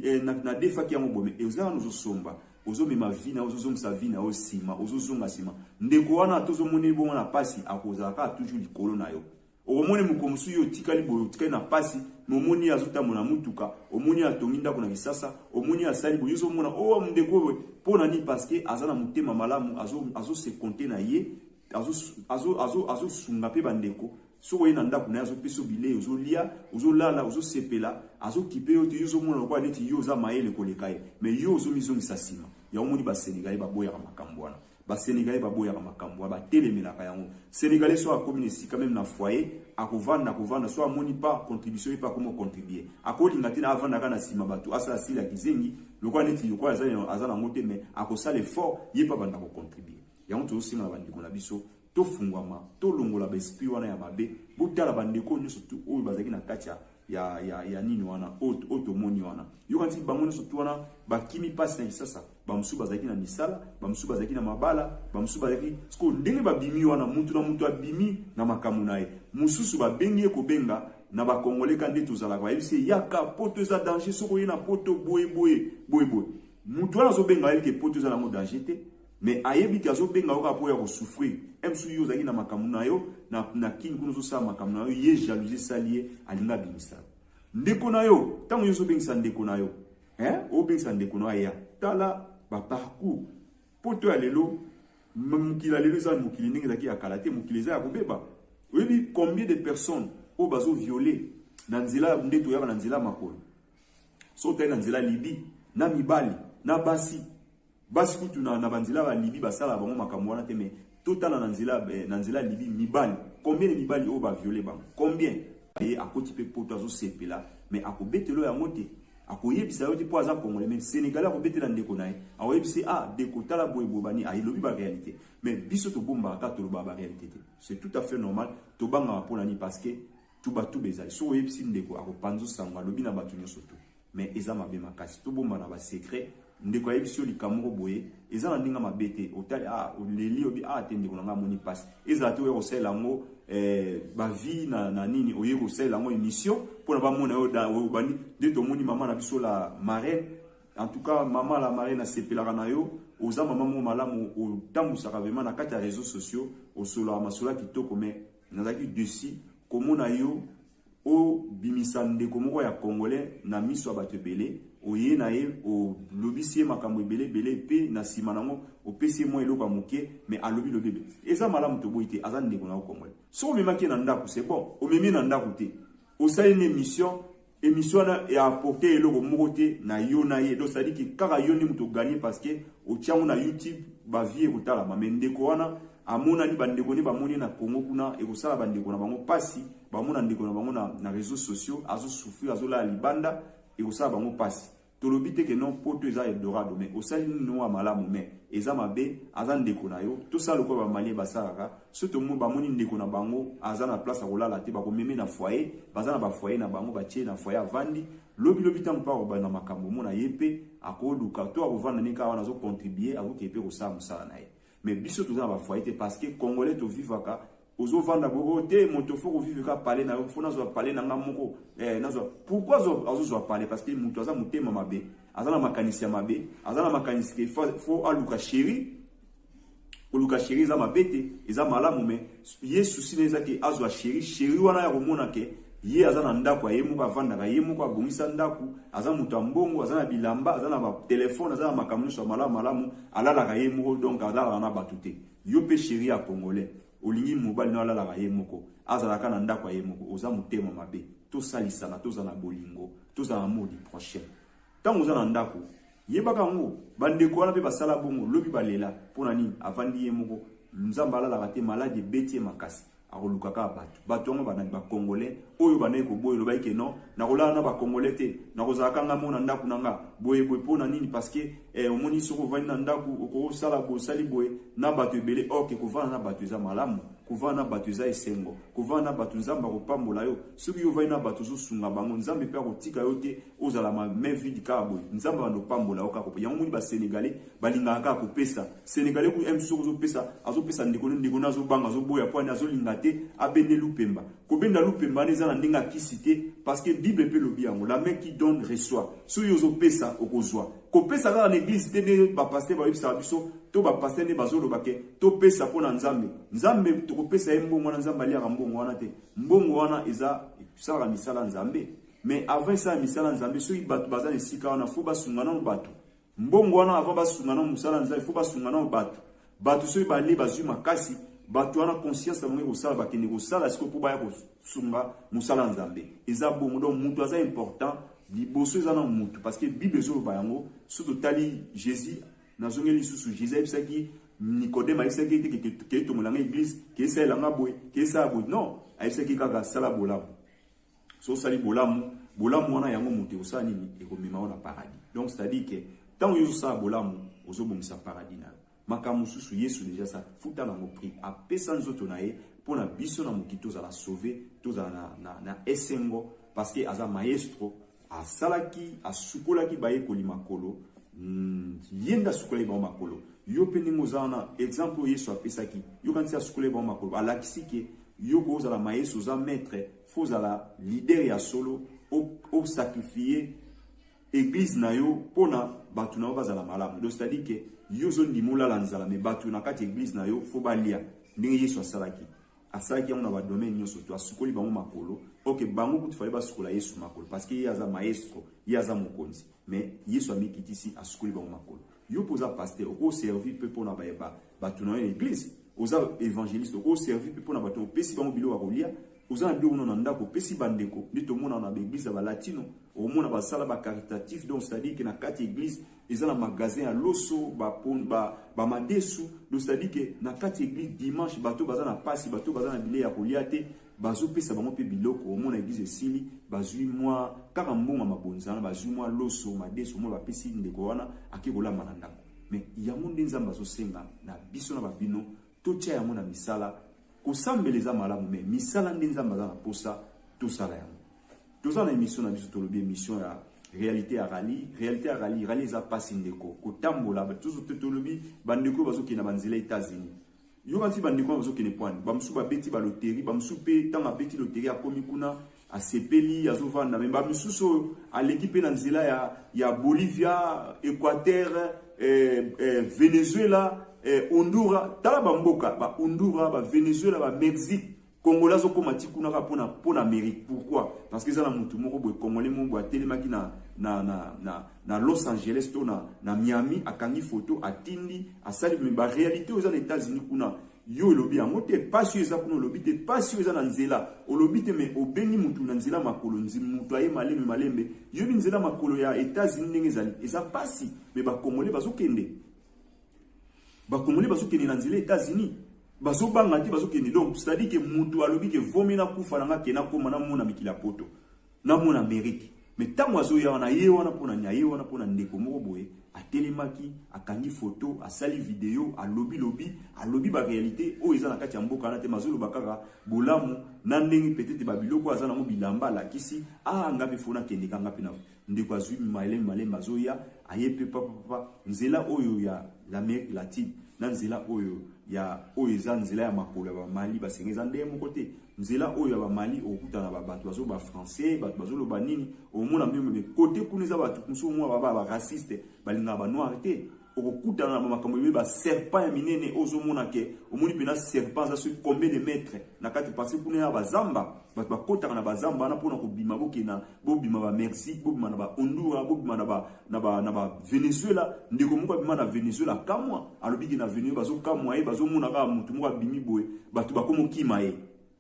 eh, na, na defaki yango boye me oza wana ozo somba Ozo mema vie nayo ozo zongisa vie nayo sima ozo zonga sima ndeko wana ata ozo moneli bongo na pasi akozala kaka toujours likolo nayo okomoni mokolo mosusu yo otikali boye otikali na pasi mais omoni ye azo tambola na mutuka omoni ye atongi ndako na kisasa omoni ye asali boye ozo mona oh ndeko oyo pona nini parce que aza na motema malamu azo azo se compter na ye azosunga mpe bandeko soki oye na ndako na ye azopesa yo bilei ozolia ozolala ozosepela azokipe yo te yo ozomona lokola neti yo oza mayele koleka ye mai yo ozomizongisa nsima yango moni basenegale baboyaka makambo wana basenegale baboyaka makambo wana batelemelaka yango senegale soki akomi na esika meme na foye akovanda akovanda soki amoni pa contribution ye mpe akomi ocontribue akolinga te na avandaka na nsima bato asala sila kizengi lokola neti lokola aza nango te mai akosala effort ye mpe abanda kocontribue Yango tozosengaka bandeko na biso tofungwama, tolongola baesprit wana ya mabe. Botala bandeko oyo nyonso tu oyo bazalaki na kati ya ya, ya, ya nini wana oyo tomoni wana yokanisi bango nyonso tu wana bakimi mpasi na lisasa bamosusu bazalaki na misala bamosusu bazalaki na mabala bamosusu bazalaki sikoyo ndenge babimi wana mutu na mutu abimi na makambo na ye mosusu babengi ye kobenga na bakongole ka nde tozalaka bayebisi ye yaka poto eza danger soki oye na poto boye boye boye boye mutu wana azobenga ayebi ke poto eza nango danger te Mais ayebi que azo benga yo kaka po ya ko souffrir. Msu yo ozalaki na makambo nayo na, na kin kuna ozo sala makambo nayo ye jalousie esali ye alingi abimisa yo. Ndeko nayo tango nyoso obengisa ndeko nayo hein, obengisa ndeko nayo aya tala ba parcours poto ya lelo mokili ya lelo eza mokili ndenge ezalaki ya kala te, mokili eza ya kobeba. Oyebi combien de personnes oyo bazo violer na nzela nde toyaka na nzela makolo so otali na nzela libi na mibali na basi Basi kutu na, na banzela ba Libye basala bango makambo wana te mais totala na nzela eh, na nzela Libye mibali combien de mibali oyo ba violer bango combien ye akoti mpe poto azosepela me akobetelo yango te akoyebisa yo te mpo aza congolais me sénégalais akobetela ndeko na ye akoyebisi ah deko tala boye boye bani ayelobi ah, baréalité me biso tobombaka kaka tolobaka baréalité te c'est tout à fait normal tobangaka mpo na nini parce que tubatuba ezali soki oyebisi ndeko akopanza osango alobi na bato nyonso tu Mais eza mabe makasi tobombana ba secret ndeko ayebisi yo likambo moko boye eza na ndenge mabe te otali ah oleli obi ah te ndeko na ngai amoni mpasi ezala te oya kosalela yango eh, bavie na, na nini oye kosalela yango émission mpo na bamona yo da obandi nde tomoni mama na biso la marraine en tout cas mama la marraine asepelaka na yo oza mama moko malamu otambwisaka vrema na kati ya réseaux sociaux osolaka masola kitoko mais nazalaki desi komona yo obimisa ndeko moko ya congolais na miso ya bato ebele oye na ye olobisi ye makambo ebele ebele mpe na nsima nango opesi ye mwa eloko ya moke mais alobi lobi ebele eza malamu toboyi te aza ndeko na yo congolais soki omemaki ye na ndako c'est bon omemi ye na ndako te osali na émission émission wana ya apporte eloko moko te na yo na ye donc sadiki kaka yo nde moto oganye parce que otiango na youtube bavie ekotalama mais ndeko wana amonani bandeko ne bamoni ye na Congo kuna ekosala bandeko na bango mpasi bamona ndeko na bango na, na réseaux sociaux azosufrir azolala libanda ekosala bango mpasi tolobi te ke non poto eza eldorado mais osali nini wa malamu mais eza mabe aza ndeko na yo tosala lokola bamalie basalaka so tomo bamoni ndeko na bango aza na place akolala te bakomeme na foyer baza na bafoyer na bango batie na foyer avandi lobilobi ntango mpe akobanda makambo omona ye mpe akoluka to akovanda ne kaka wana azocontribue akoki mpe kosala mosala na ye Mais biso toza na ba foyer te parce que congolais to vivaka ozo vanda bobo te moto faut ko vivre ka parler na yo faut nazwa parler na nga moko eh nazwa pourquoi azo azo zwa parler parce que moto aza motema mabe aza na makanisi ya mabe aza na makanisi que faut aluka chérie oluka chérie eza mabe te eza malamu mais Ye souci naye eza ke azwa cherie, cherie wana ya komona ke ye aza na ndaku ya ye moko, avandaka ye moko, abongisa ndaku, aza mutu ya mbongo, aza na bilamba, aza na ba telephone, aza na makambo nionso ya malamu malamu, alalaka ye moko donc alalaka na batu te. Yo pe cherie ya congolais olingi mobali nayo alalaka ye moko, azala kaka na ndaku ya ye moko, oza motema mabe. Tosalisana, tozala na bolingo, tozala na amour du prochain. Tangu oza na ndaku, Yebaka yango ba ndeko wana pe basala bongo lobi balela pona nini avandi ye moko nzambe alalaka te malade ebeti ye makasi akoluka kaka batu batu yango banani ba congolais oyo bandaki koboya elobaki ke non nakolala na ba congolais te nakozala ka ngai moko na ndaku na nga boye boye pona nini parceque eh, omoni soki ovandi na ndaku okosala boye osali boye na batu ebele ok kovanda na batu eza malamu kovanda na batu eza esengo kovanda na batu nzambe akopambola yo soki yo ovandi na batu ozosunga bango nzambe pe akotika yo te Ozala ma main vide kaka boye. Nzambe abanda opambola yo kaka kopesa. Yango omoni ba senegalais balingaka kaka kopesa. Senegalais kutu aime soki ozopesa, azopesa ndeko ne, ndeko ne azobanga, azoboya po ani azolinga te abende lupemba. Kobenda lupemba wana eza na ndenge ya kisi te parce que bible pe elobi yango la main qui donne reçoit. Soki yo ozopesa okozwa. Kopesa kaka na eglise te nde ba pasteurs bayebisaka biso to ba pasteurs nde bazoloba ke topesa pona Nzambe. Nzambe tokopesa ye mbongo wana Nzambe aliaka mbongo wana te. Mbongo wana eza esalaka misala ya Nzambe. Mais avant esala misala nzambe soki batu baza na esika wana faut basunga nano batu mbongo wana avant basunga nano mosala nzambe faut basunga nano batu batu soki bane bazwi makasi batu wana conscience na bango ekosala bakende kosala siko mpo baya kosunga mosala nzambe eza bongo donc mutu aza important liboso eza na mutu parce que bible ezoloba yango so totali jésus nazongeli lisusu jésus ayebisaki nicodème ayebisaki ete kei tongolanga église keesaelanga boye keesala boye non ayebisaki kaka sala bolamu so osali bolamu bolamu wana yango moto ekosala nini ekomema yo na paradis donc c'est-à-dire que ntango yo ozosala bolamu ozobongisa paradis na yo makambo mosusu yesu deja sa futa nango prix apesa nzoto na ye mpo na biso na mokili tozala sauve tozala na, na, na esengo parce que aza maestro asalaki asukolaki bayekoli makolo mm, ye nde asukolaki bango makolo yo mpe ndenge oza wana exemple oyo yesu apesaki yokanisi asukolaki bango makolo alakisi ke yo kozala maestro oza maître Faut zala leader ya solo, o sacrifier église na yo pona batu na yo bazala malamu. Donc c'est-à-dire que yo zo ndimola la nzala mais batu na kati église na yo faut balia. Ndenge Yesu asalaki. Asalaki yango na ba domaine nyonso to asukoli bango makolo. Ok, bango kutu fallait basukola Yesu makolo parce que ye aza maestro, ye aza mokonzi. Mais Yesu amikitisi asukoli bango makolo. Yo pe oza pasteur oko servir pe pona ba ba batu na yo na eglise oza evangeliste oko servir pe pona batu opesi bango biloko ya kolia oza na biloko na ndako opesi ba ndeko nde tomona na ba eglise ya ba latino omona basala ba caritatif donc c'est à dire que na kati eglise eza na magasin ya loso ba pon ba ba madesu donc c'est à dire que na kati eglise dimanche bato baza na pasi bato baza na bilei ya kolia te Bazo pesa bango pe biloko omona eglise esili bazui mua kaka mbongo ya mabonza wana bazui mua loso madesu omona ba pesi ndeko wana ake kolamba na ndaku mais yango nde nzambe azo senga na biso na ba bino totia yango na misala kosambela eza malamu mais misala nde nzambe aza na posa tosala yango toza na emission na biso tolobi emission ya réalité ya rallye réalité ya rallye rallye eza pasi ndeko kotambola tozo tolobi bandeko bazokende na banzela etats-unis Yoka ti bandeko wana bazokende pwani, bamosusu babeti baloteri, bamosusu mpe ntango abeti loteri akomi kuna asepeli, azovanda me bamisusu oyo aleki mpe na nzela ya, ya Bolivia, Equateur, eh, eh, Venezuela, eh, Honduras. Tala bamboka ba Honduras, ba Venezuela, ba Mexique Congolais azo koma ti kuna kaka pona pona Amerique pourquoi? Parce que eza na mutu moko boye Congolais moko boye atelemaki na na na na na Los Angeles to na na Miami akangi photo atindi asali mais ba réalité oyo eza na États-Unis kuna yo olobi yango te pasi oyo eza kuna olobi te pasi oyo eza na nzela olobi te mais obengi mutu na nzela makolo nzi mutu aye malembe malembe yobi nzela makolo ya États-Unis ndenge ezali eza pasi mais ba Congolais bazokende Ba congolais bazo kende na nzela Etats-Unis. Bazo banga te bazo kende donc c'est à dire que mutu alobi que vomi na kufa na nga ke na koma na mona mikila poto. Na mona Amerique. Mais tango azo ya wana ye wana pona ni aye wana pona ndeko moko boye atelemaki akangi photo asali video alobi lobi alobi ba réalité oyo eza na kati ya mboka wana te mazoloba kaka bolamu na ndenge peut-être ba biloko aza nango bilamba alakisi ah nga mpe fona kendeka nga mpe na Ndeko azui malembe malembe azoya aye pe papa papa nzela oyo ya l'Amerique latine na nzela oyo ya oyo eza nzela ya makolo ya ba Mali basenge eza ndenge moko te nzela oyo ya ba Mali okutana ba bato bazo ba français bato bazo loba nini omona meme kote kuna eza bato mosusu mwa ba ba raciste balingaka ba noir te okokutana na makambo ebele ba serpent ya minene ozomona ke omoni mpena serpent aza soki combien de mètre na kati parce kuna ya bazamba bato bakotaka na bazamba wana mpona kobima bokenda bobima ba mexique bobima na ba hondura bobima na ba, na ba, na ba venezuela ndeko moko abima na venezuela kamwa alobi ke na venezuela bazokamwa ye bazomona kaka motu moko abimi boye bato bakomokima ye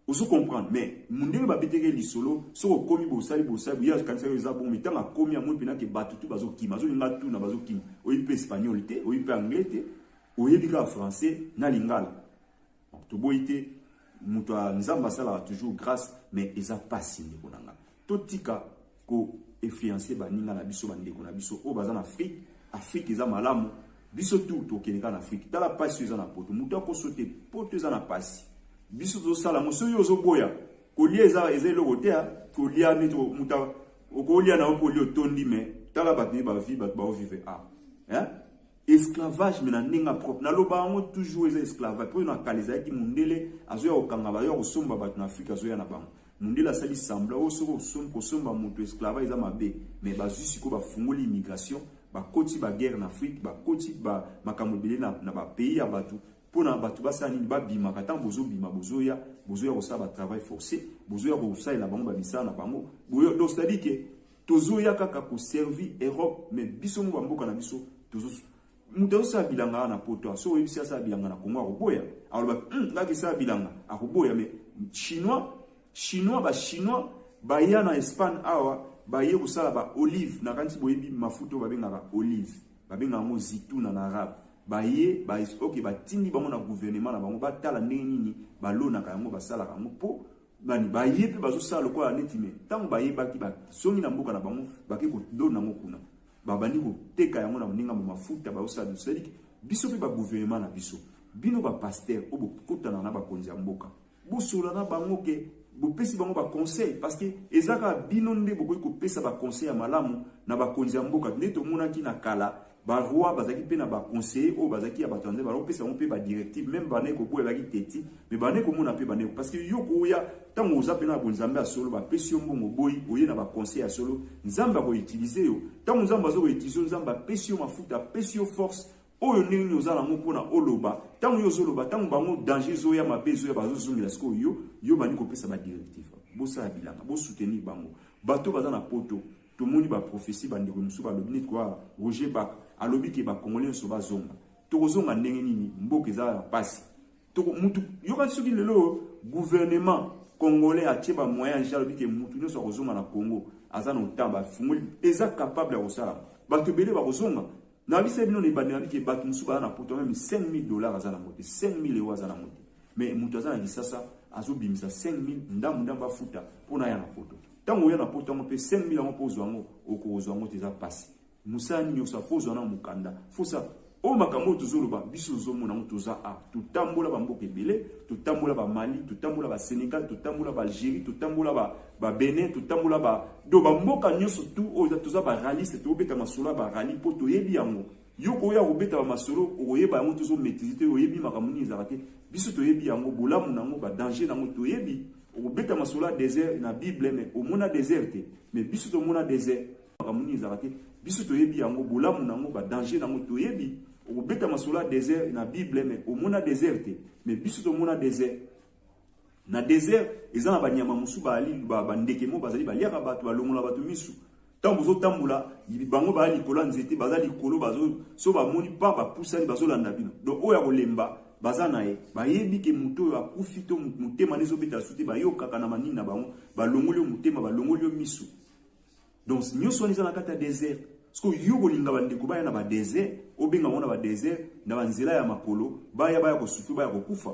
Ozo comprendre mais mundele ba beteke lisolo soki okomi bosali bosali ye akanisaki eza bongo mais tango akomi amoni pena ke batu tout bazo kima azo linga atuna bazo kima oyebi pe espagnol te oyebi pe anglais te oyebi kaka français na lingala toboyi te mutu ya nzambe asalaka toujours grace mais eza pasi ndeko na nga totika ko influencer baninga na biso bandeko na biso oyo baza na Afrique Afrique eza malamu biso tout tokende kaka na Afrique tala pasi eza na poto moto akoso te poto eza na pasi biso tozosala yango soki ozoboya kolia eza eza eloko te ah. kolia neti moto okolia na yo mpo olia otondi me tala bato nde bavi bato baovive a ah. esclavage me na ndenge propre naloba yango toujours eza esclavage mpo na kala ezalaki mondele azoya kokanga bayo ya kosomba bato na afrika azoya na bango Mundele asali semblant oyo soki kosomba mutu esclavage eza mabe mais bazui sikoyo ba fungoli immigration ba koti ba guerre na Afrique ba koti ba makambo ebele na na ba pays ya batu pona batu basala nini ba bimaka tango bozo bima bozo ya bozo ya kosala ba travail force bozo ya kosalela bango ba misala na bango boyo donc c'est à dire que tozo ya kaka ko servir Europe mais biso moko ba mboka na biso tozo Moto azo sala bilanga awa na poto awa, soki oyebisi asala bilanga na Congo akoboya, akoloba hum nga kesala bilanga, akoboya. Mais chinois, chinois ba chinois baya na Espagne awa baye kosala ba olive, nakanisi boyebi mafuta oyo babengaka olive, babengaka yango zitouna na arabe. Baye ba ok batindi bango na gouvernement na bango batala ndenge nini balonaka yango, basalaka yango po bani baye mpe bazosala lokola neti me ntango bayebaki bazongi na mboka na bango bake kolona yango kuna. babandi koteka yango na moninga mo mafuta baosala biso cetadike biso mpe baguvernema na biso bino bapastere oyo bokotana na bakonzi ya mboka bosola na bango ke bopesi bango baconseil parce que eza kaka bino nde bokoki kopesa baconseil ya malamu na bakonzi ya mboka nde tomonaki na kala baroi bazalaki mpe na baconseiller oyo bazalaki ya bato ya nzambe balopesa bango mpe badirective meme bandaki koboya baki teti Mais bane komona pe bane parce que yo koya tango oza pena ko nzambe ya solo ba pesi yo mbongo boyi oye na ba conseil ya solo nzambe ako utiliser yo tango nzambe azo ko utiliser nzambe apesi yo mafuta apesi yo force oyo ndenge nini oza nango mpona oloba ntango yo ozoloba ntango bango danger ezoya mabe ezoya bazozongela sikoyo yo yo bandi kopesa badirective bosala bilanga bosoutenir bango bato baza na poto tomoni baprofesi bandeko mosusu balobi neti koa roger bak alobi ke bakongole nyonso bazonga tokozonga ndenge nini mboka eza ya mpasi toko mutu yoka soki lelo gouvernement congolais atie ba moyen ya alobi ke mutu nyonso akozonga na Congo aza na otamba afungoli eza capable ya kosala bato ebele bakozonga na bisa bino na ebandi na bike bato mosusu baza na poto meme 5000 dollars aza na mote 5000 euro aza na mote mais moto aza na lisasa azobimisa 5000 ndambo ndambo afuta mpo na ya na poto ntango oya na poto yango mpe 5000 yango mpo ozwa yango okozwa yango te eza mpasi Musala nini osa faut ozwa na mukanda faut sa oyo makambo oyo tozoloba biso tozomona yango toza a totambola bamboka ebele totambola ba mali totambola ba senegal totambola ba algérie totambola ba, ba benin totambola ba do bamboka nyonso tu oyo toza ba raliste tobeta masolo ya ba rali mpo toyebi yango yo koya kobeta ba masolo okoyeba yango tozomaitrise te oyebi makambo nini ezalaka te biso toyebi yango bolamu na yango badanger na yango toyebi okobeta masolo ya desert na bible me omona desert te me biso tomona desert makambo nini ezalaka te biso toyebi yango bolamu na yango badanger na yango toyebi okobeta masolo ya desert na bible me omona desert te me biso tomona desert na desert eza na banyama mosusu baali bandeke mo bazali baliaka bato balongola bato misu ntango bozotambola bango baya likolo ya nzete baza likolo bazo so bamoni pa bapusani bazolanda bino donc oyo ya kolemba baza na ye bayebi ke moto oyo akufi to motema nde ezobeta su te bayokaka na manini na bango balongoli yo motema balongoli yo miso donc nyoso wana eza na kati ya desert siko yo okolinga bandeko baya na badesert obenga bango na badesert na banzela ya makolo baya baya kosufri baya kokufa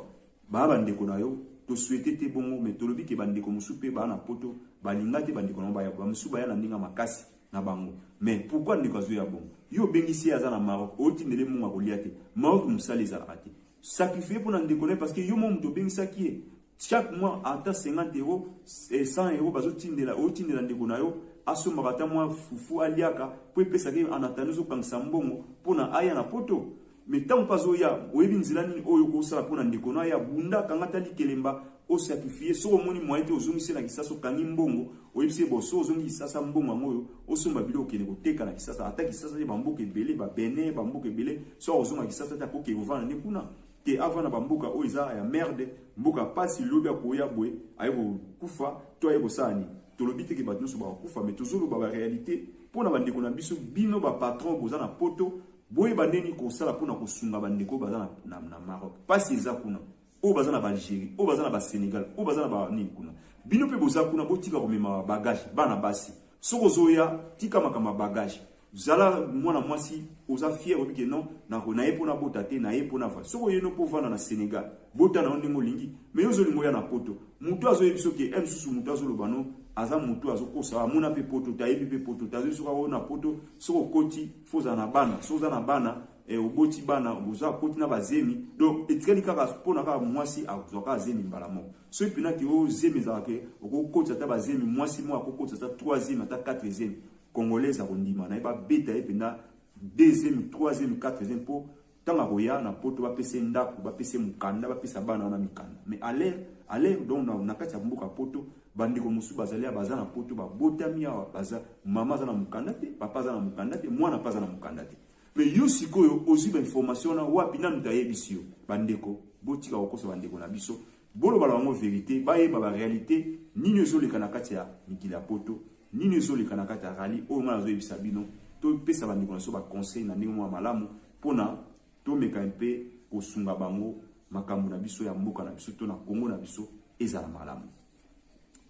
baya bandeko na yo toswete te bongo me tolobi ke bandeko mosusu mpe baya na poto balinga te bandeko na bango baya bamosusu baya na ndenge ya makasi na bango me pourkui ndeko azoya bongo yo obengisi ye aza na maroc otindele mungu akolia te maroc mosala ezalaka te sacrifie mpo na ndeko na ye parce que yo mo moto obengisaki ye Chaque mois ata 50 euros, 100 euros bazo tindela, otindela ndeko na yo asombaka ata mwa fufu aliaka po epesaka ye en attendant ozokangisa mbongo pona aya na poto mais ntango mpe azoya oyebi nzela nini oyo okosala mpo na ndeko no aya bunda kanga ata likelemba osakrifie soki omoni moyen te ozongisi na kisasa okangi mbongo oyebisi ye bo soki ozongi kisasa mbongo yango oyo osomba biloko okende koteka na kisasa ata kisasa te bamboka ebele babene bamboka ebele soki akozonga kisasa te akoki kovanda nde kuna te avanda ba mboka oyo eza ya merde mboka pasi lobi akoya boye aye kokufa to aye kosala nini tolobi te ke bato nyonso bakokufa me tozoloba ba réalité mpo na bandeko na biso bino ba patron boza na poto boyeba ndeni kosala mpo na kosunga bandeko oyo baza na, na, na maroc pasi eza kuna oyo baza na baalgérie oyo baza na basénégal oyo baza na banini kuna bino mpe boza kuna botika komema bagage bana basi soki ozoya tika makambo ya bagage Zala mwana mwasi oza fier oyebi ke non nako na ye mpo nabota te na ye mpo nava soki oyeno mpo ovanda na Senegal bota na yo ndenge olingi me yo ozolinga oya na poto moto azoyebi soki e eh, mosusu moto azoloba no aza moto azokosa amona mpe poto te ayebi mpe poto te azoyebi soki aoyo na poto soki okoti fo ozala na bana soki oza na bana e, oboti bana oza akoti na bazemi donc etikali kaka mpona kaka mwasi azwa kaka zemi mbala moko soki mpena te oyo zemi ezalaka okokotisa ata bazemi mwasi moko akokotisa ata 3 zemi ata 4 zemi Congolaise akondima naye ba beta ye penda deuxième, troisième, quatrième po tango akoya na poto ba pesa ye ndaku, ba pesa ye mukanda, ba pesa bana wana mikanda. Mais à l'heure, à l'heure donc na, na kati ya mboka poto ba ndeko mosusu bazali awa baza na poto ba botami awa baza mama aza na mukanda te, papa aza na mukanda te, mwana pe aza na mukanda te. Mais yo sikoyo ozui ba information wana wapi? Nani moto ayebisi yo? Ba ndeko botika kokosa ba ndeko na biso, boloba na bango verite, bayeba ba realite nini ezoleka na kati ya mikili ya poto Nini ezo leka na kati ya rallye oyo nga nazo yebisa bino to pesa ba ndeko na so ba conseil na ndenge mwa malamu pona to meka un peu ko sunga bango makambo na biso ya mboka na biso to na Congo na biso ezala malamu.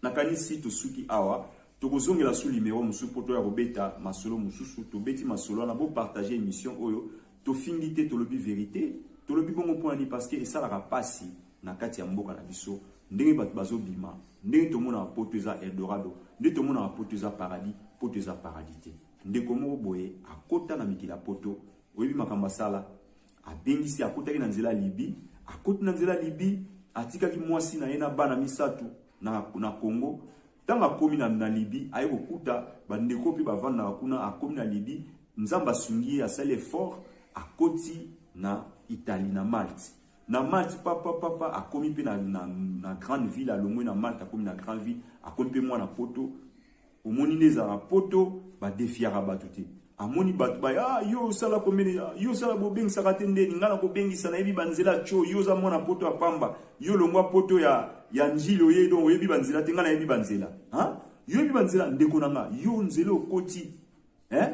Na kanisi to suki awa toko zongela su limero musu po to ya ko beta masolo mususu to beti masolo wana bo partager emission oyo Tofingi te tolobi verite. Tolobi bongo pona nini parce que esalaka pasi na kati ya mboka na biso ndenge batu bazo bima ndenge tomonaka poto eza eldorado nde tomonaka poto eza paradis poto eza paradis te. Ndeko moko boye akota na mikili ya poto oyebi makambo asala abengisi akotaki na nzela libi akoti na nzela libi atikaki mwasi na ye na bana misato na, na Congo Ntango akomi na, na Libi, aye kokuta bandeko mpe bavandaka kuna. Akomi na Libi, Nzambe asungi ye, asali effort, akoti na Italie, na Malte. Na Malte, pa, pa, pa, pa, akomi mpe na, na, na grande ville, alongwe na Malte, akomi na grande ville, akomi mpe mwana poto. Omoni nde ezalaka poto, badefiaka bato te. Amoni batu baye ah yo osala komene ah, yo osala bobengisaka te ndeni nga nakobengisa nayebi banzela cho yo oza mwana poto ya pamba yo longwa poto ya ya njili oye donc oyebi banzela te nga nayebi banzela ha yo oyebi banzela ndeko na nga yo nzela okoti eh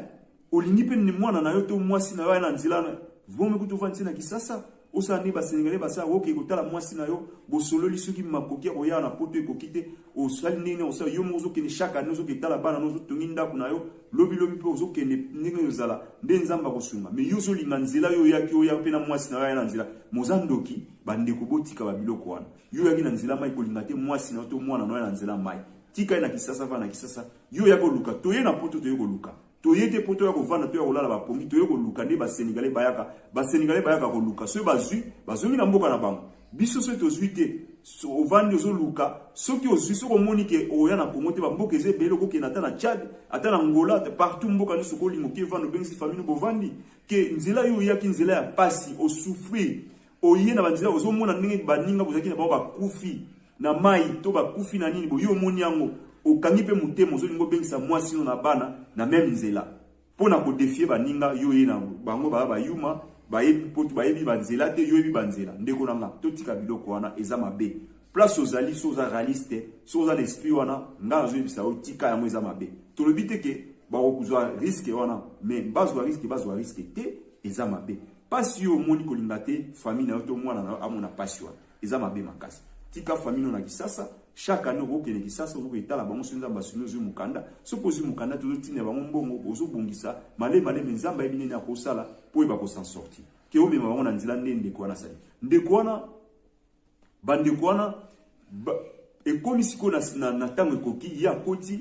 olingi mpe mwana na yo to mwasi na yo aya na nzela na vomi kutu ofandisi na kisasa Osala nini ba senegalais basala oke kotala mwasi na yo bosololi soki makoki ya koya na poto ekoki te osali ndenge nini osala yo moko ozokende chaque année ozoke tala bana no ozotongi ndako na yo lobi lobi mpe ozokende ndenge nini ozala nde nzambe akosunga me yo ozolinga nzela yo oyaki oya mpe na mwasi na yo aya na nzela moza ndoki bandeko botika babiloko wana yo oyaki na nzela mai kolinga te mwasi na yo to mwana na yo na nzela mai tika ye na kisasa va na kisasa yo oyaki koluka toye na poto toye koluka Toye te po toya kovanda toya kolala ba pongi toye koluka nde ba senegalais bayaka ba senegalais bayaka koluka soki bazwi bazongi na mboka na bango biso soki tozwi te so, ovandi ozoluka soki ozwi soki omoni ke oya na congo te bamboka eza ebele okokende ata na tchad ata na ngola partout mboka nyonso okolinga oke evanda obengisi famille bovandi ke nzela yo oyaki nzela ya pasi osouffrir Oye na banzela ozo mona ndenge baninga bozalaki na bango bakufi na mai to bakufi na nini boye omoni yango okangi mpe motema ozolinga obengisa mwasi no na bana na meme nzela mpo na kodefie baninga yo ye na bango baya bayuma bayebi mpotu bayebi banzela te yo yebi banzela ndeko na nga totika biloko wana eza mabe place ozali so oza realiste so oza na esprit wana nga nazoyebisa yo tika yango eza mabe tolobi te ke bakokozwa riske wana me bazwa riske bazwa riske te eza mabe Pasi yo omoni kolinga te famille na yo to mwana na yo amona pasi wana eza mabe makasi tika famille no na kisasa chaque année okokende kisasa okoki etala bango so nzambe asuni ozwi mokanda soki ozwi mokanda te ozotinda bango mbongo ozobongisa male male me nzambe ayebi nini akosala mpo oyeba kosan sorti ke omema bango na nzela nde ndeko wana asali ndeko wana Bandeko wana ba, ekomi sikoyo na, na, na ntango ekoki ye akoti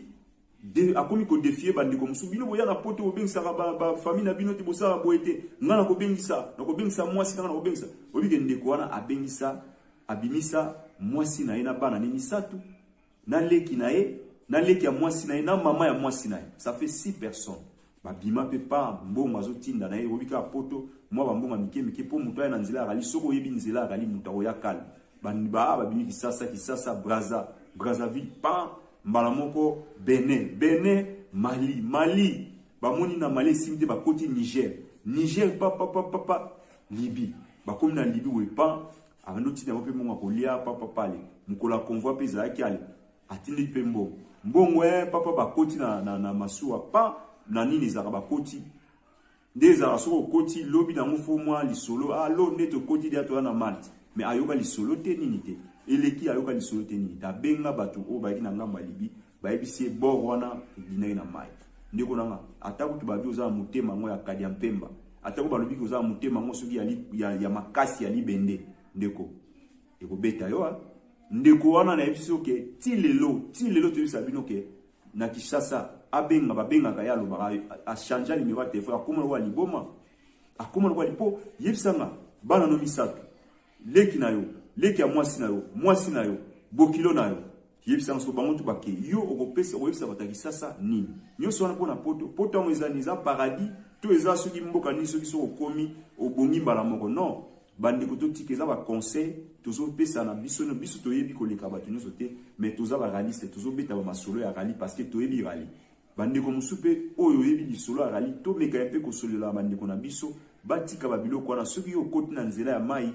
de, akomi kodefie bandeko mosusu bino boya na poto bobengisaka bafamille na bino te bosala boye te ngai nakobengisa nakobengisa mwasi nanga nakobengisa oyebike ndeko wana abengisa abimisa mwasi na ye na bana ne misato na leki na ye na leki ya mwasi na ye na mama ya mwasi na ye ça fait 6 personnes babima mpe pa mbongo azotinda na ye oyebi kaka poto mwa bambongo ya mike mike mpo moto aya na nzela akali soki oyebi nzela akali moto akoya kale baa babimi kisasa kisasa braza brazaville pa mbala moko benin benin mali mali bamoni na mali esimi te bakoti niger niger papapapapa libye bakomi na libye wepa Abandi otinda yango mpe mbongo ya kolia papa pale mokolo ya convoi mpe ezalaki ale atindiki mpe mbongo mbongo e papa bakoti na, na, na masuwa pa na nini ezalaka bakoti nde ezalaka soki okoti lobi nango fo mwa lisolo alo ah, nde tokoti dia toya na malte me ayoka lisolo te nini te eleki ayoka lisolo te nini te abenga bato oyo bayaki na ngambo ya libi Bayebisi ye bord wana ebinaki na mai. Ndeko na nga, ata kutu babi oza na motema yango ya kadia mpemba, ata ko balobi ki oza na motema yango soki ya, ya, ya makasi ya libende, ndeko ekobeta yo. Hein? ndeko wana nayebisi yo ke ti lelo ti lelo toyebisa bino ke na Kinshasa abenga babengaka ye alobaka achangea nimero ya telefone akoma lokola liboma akoma lokola lipo yebisanga bana no misato Leki na yo, leki ya mwasi na yo, mwasi na yo, bokilo na yo. Yebisa yango bango tu bake yo okopesa okoyebisa bato ya kisasa nini nyonso wana mpo na poto poto yango eza eza paradis to eza soki mboka nini soki soki okomi obongi mbala moko non bandeko totika eza baconseil tozopesa na biso no biso toyebi koleka bato nyonso te mais toza baraliste tozobeta bamasolo ya rali parce que toyebi rali Bandeko mosusu mpe oyo oyebi lisolo ya rallye, tomeka mpe kosolelaka bandeko na biso batika babiloko wana. Soki yo okoti na nzela ya mai,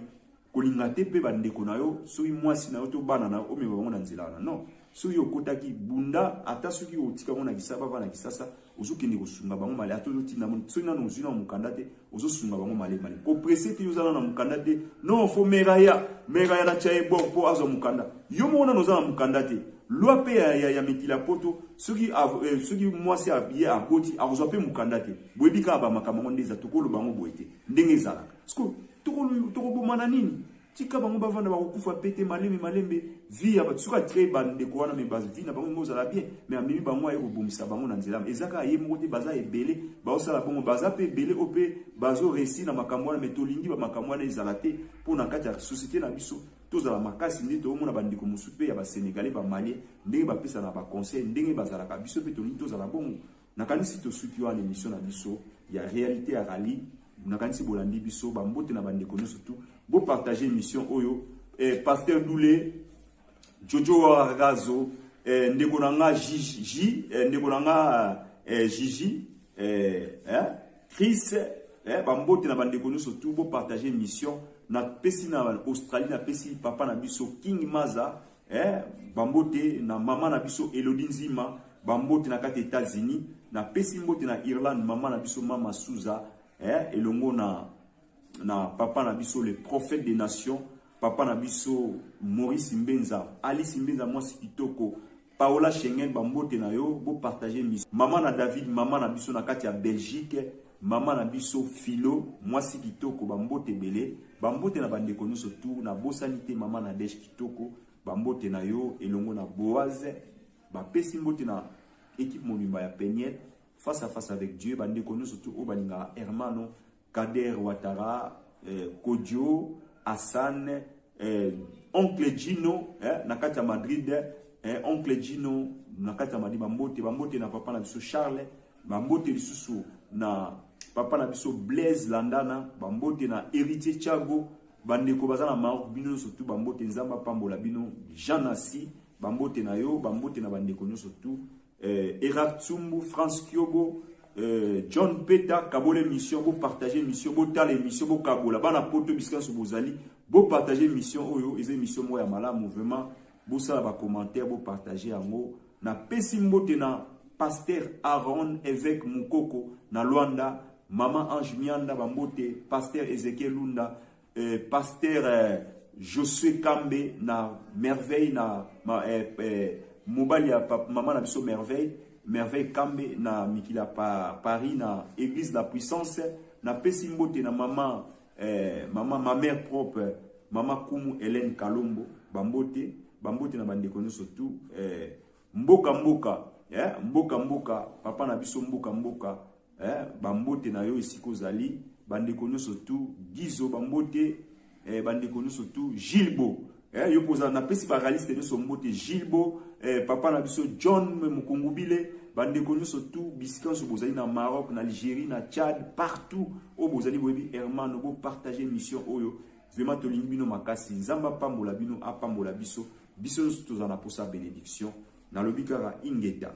kolinga te mpe bandeko na yo, soki mwasi na yo to bana na yo, omema bango na nzela wana. Non, soki yo okotaki, bunda ata soki otika yango na kisasa, bavanda na kisasa, ozokende kosunga bango male, ata ozotinda yango, soki nanu ozwi nanu mokanda te, ozo sunga bango male male ko presse te yozana na mukanda te non fo meraya meraya na chaye bor po azo mukanda yo moko na nozana mukanda te loi pe ya, ya, ya mikila poto soki eh, soki mwasi ye akoti akozwa pe mukanda te boyebi kaka ba makambo yango nde eza tokoloba yango boye te ndenge ezalaka siko tokobomana nini Tika bango bavanda bakokufa mpe te malembe malembe vie ya bato soki atrei bandeko wana me bavie na bango ekozala bien me amemi bango aye kobongisa bango na nzela eza kaka ye moko te baza ebele baosala bongo baza mpe ebele oyo mpe bazoresir na makambo wana me tolingi bamakambo wana ezala te mpo na kati ya société na biso tozala makasi nde toomona bandeko mosusu mpe ya basenegale bamalie ndenge bapesana baconseil ndenge bazalaka biso mpe tolingi tozala bongo Nakanisi tosuki wana emission na biso ya realite ya rallye. Nakanisi bolandi biso ba mbote na bandeko nyonso tout. Bo partager emission oyo eh, pasteur Doule Jojo Razo eh, ndeko na nga Jiji eh, ndeko na nga eh, Jiji eh, eh, Chris eh, ba mbote na bandeko nyonso tout. Bo partager emission na pesi na Australie na pesi papa na biso King Maza Eh, bambote na mama na biso Elodie Nzima, bambote na kati Etats-Unis, na pesi mbote na Irlande mama na biso mama Souza, eh, elongo na na papa na biso le prophète des nations, papa na biso Maurice Mbenza, Alice Mbenza mwasi kitoko, Paola Schengen bambote na yo, bo partager mission. Mama na David, mama na biso na kati ya Belgique, Maman na biso Philo mwasi kitoko ba mbote ebele ba mbote na bandeko nyonso tu na bosani te maman Nadège kitoko ba mbote na yo elongo na Boaz ba pesi mbote na equipe mobimba ya Peniel face à face avec Dieu ba ndeko nyonso tu oyo balingaka Hermano Kader Ouattara eh, Kodio Hassan eh, oncle Gino eh, na kati ya Madrid eh, oncle Gino na kati ya Madrid ba mbote ba mbote na papa na biso Charles Ba mbote lisusu na papa na biso Blaise Landana, ba mbote na Heritier Thiago, ba ndeko baza na Maroc bino nyoso tout ba mbote Nzambe apambola bino. Jean Nassi ba mbote na yo, ba mbote na ba ndeko nyoso tout. Euh, Erard Tsumbu, France Kiobo, euh, John Peta, kabola emission, bo partager emission, bo tala emission, bo kabola bana poto bisika nyoso bozali, bo partager emission oyo, eza emission moko ya malamu vraiment. Bosala ba commentaires bo partager yango. Na pesi mbote na Pasteur Aaron Eveque Mukoko na Luanda, Maman Ange Mianda ba mbote, Pasteur Ezekiel Lunda, eh, Pasteur eh, Josue Kambe na Merveille na ma, eh, eh, mobali ya pap- mama na biso Merveille, Merveille Kambe na mikila pa, Paris na Église la Puissance. Na pesi mbote na Maman Eh, mama ma mère propre mama kumu Hélène Kalombo bambote bambote na bandeko nyonso tout eh, mboka mboka eh, mboka mboka papa na biso mboka mboka eh, bambote na yo esika ozali bandeko nyonso tout Gizo bambote eh, bandeko nyonso tout Gilbo Eh, yo poza napesi ba realiste nyoso mbote Gilbo eh, papa na biso John Mukungubile bandeko nyoso tu bisika nyoso bozali na Maroc na Algérie na Tchad partout oyo bozali boyebi Hermano bo partager mission oyo vraiment tolingi bino makasi Nzambe apambola bino apambola biso biso nyoso tozala na posa benediction nalobi kaka ingeta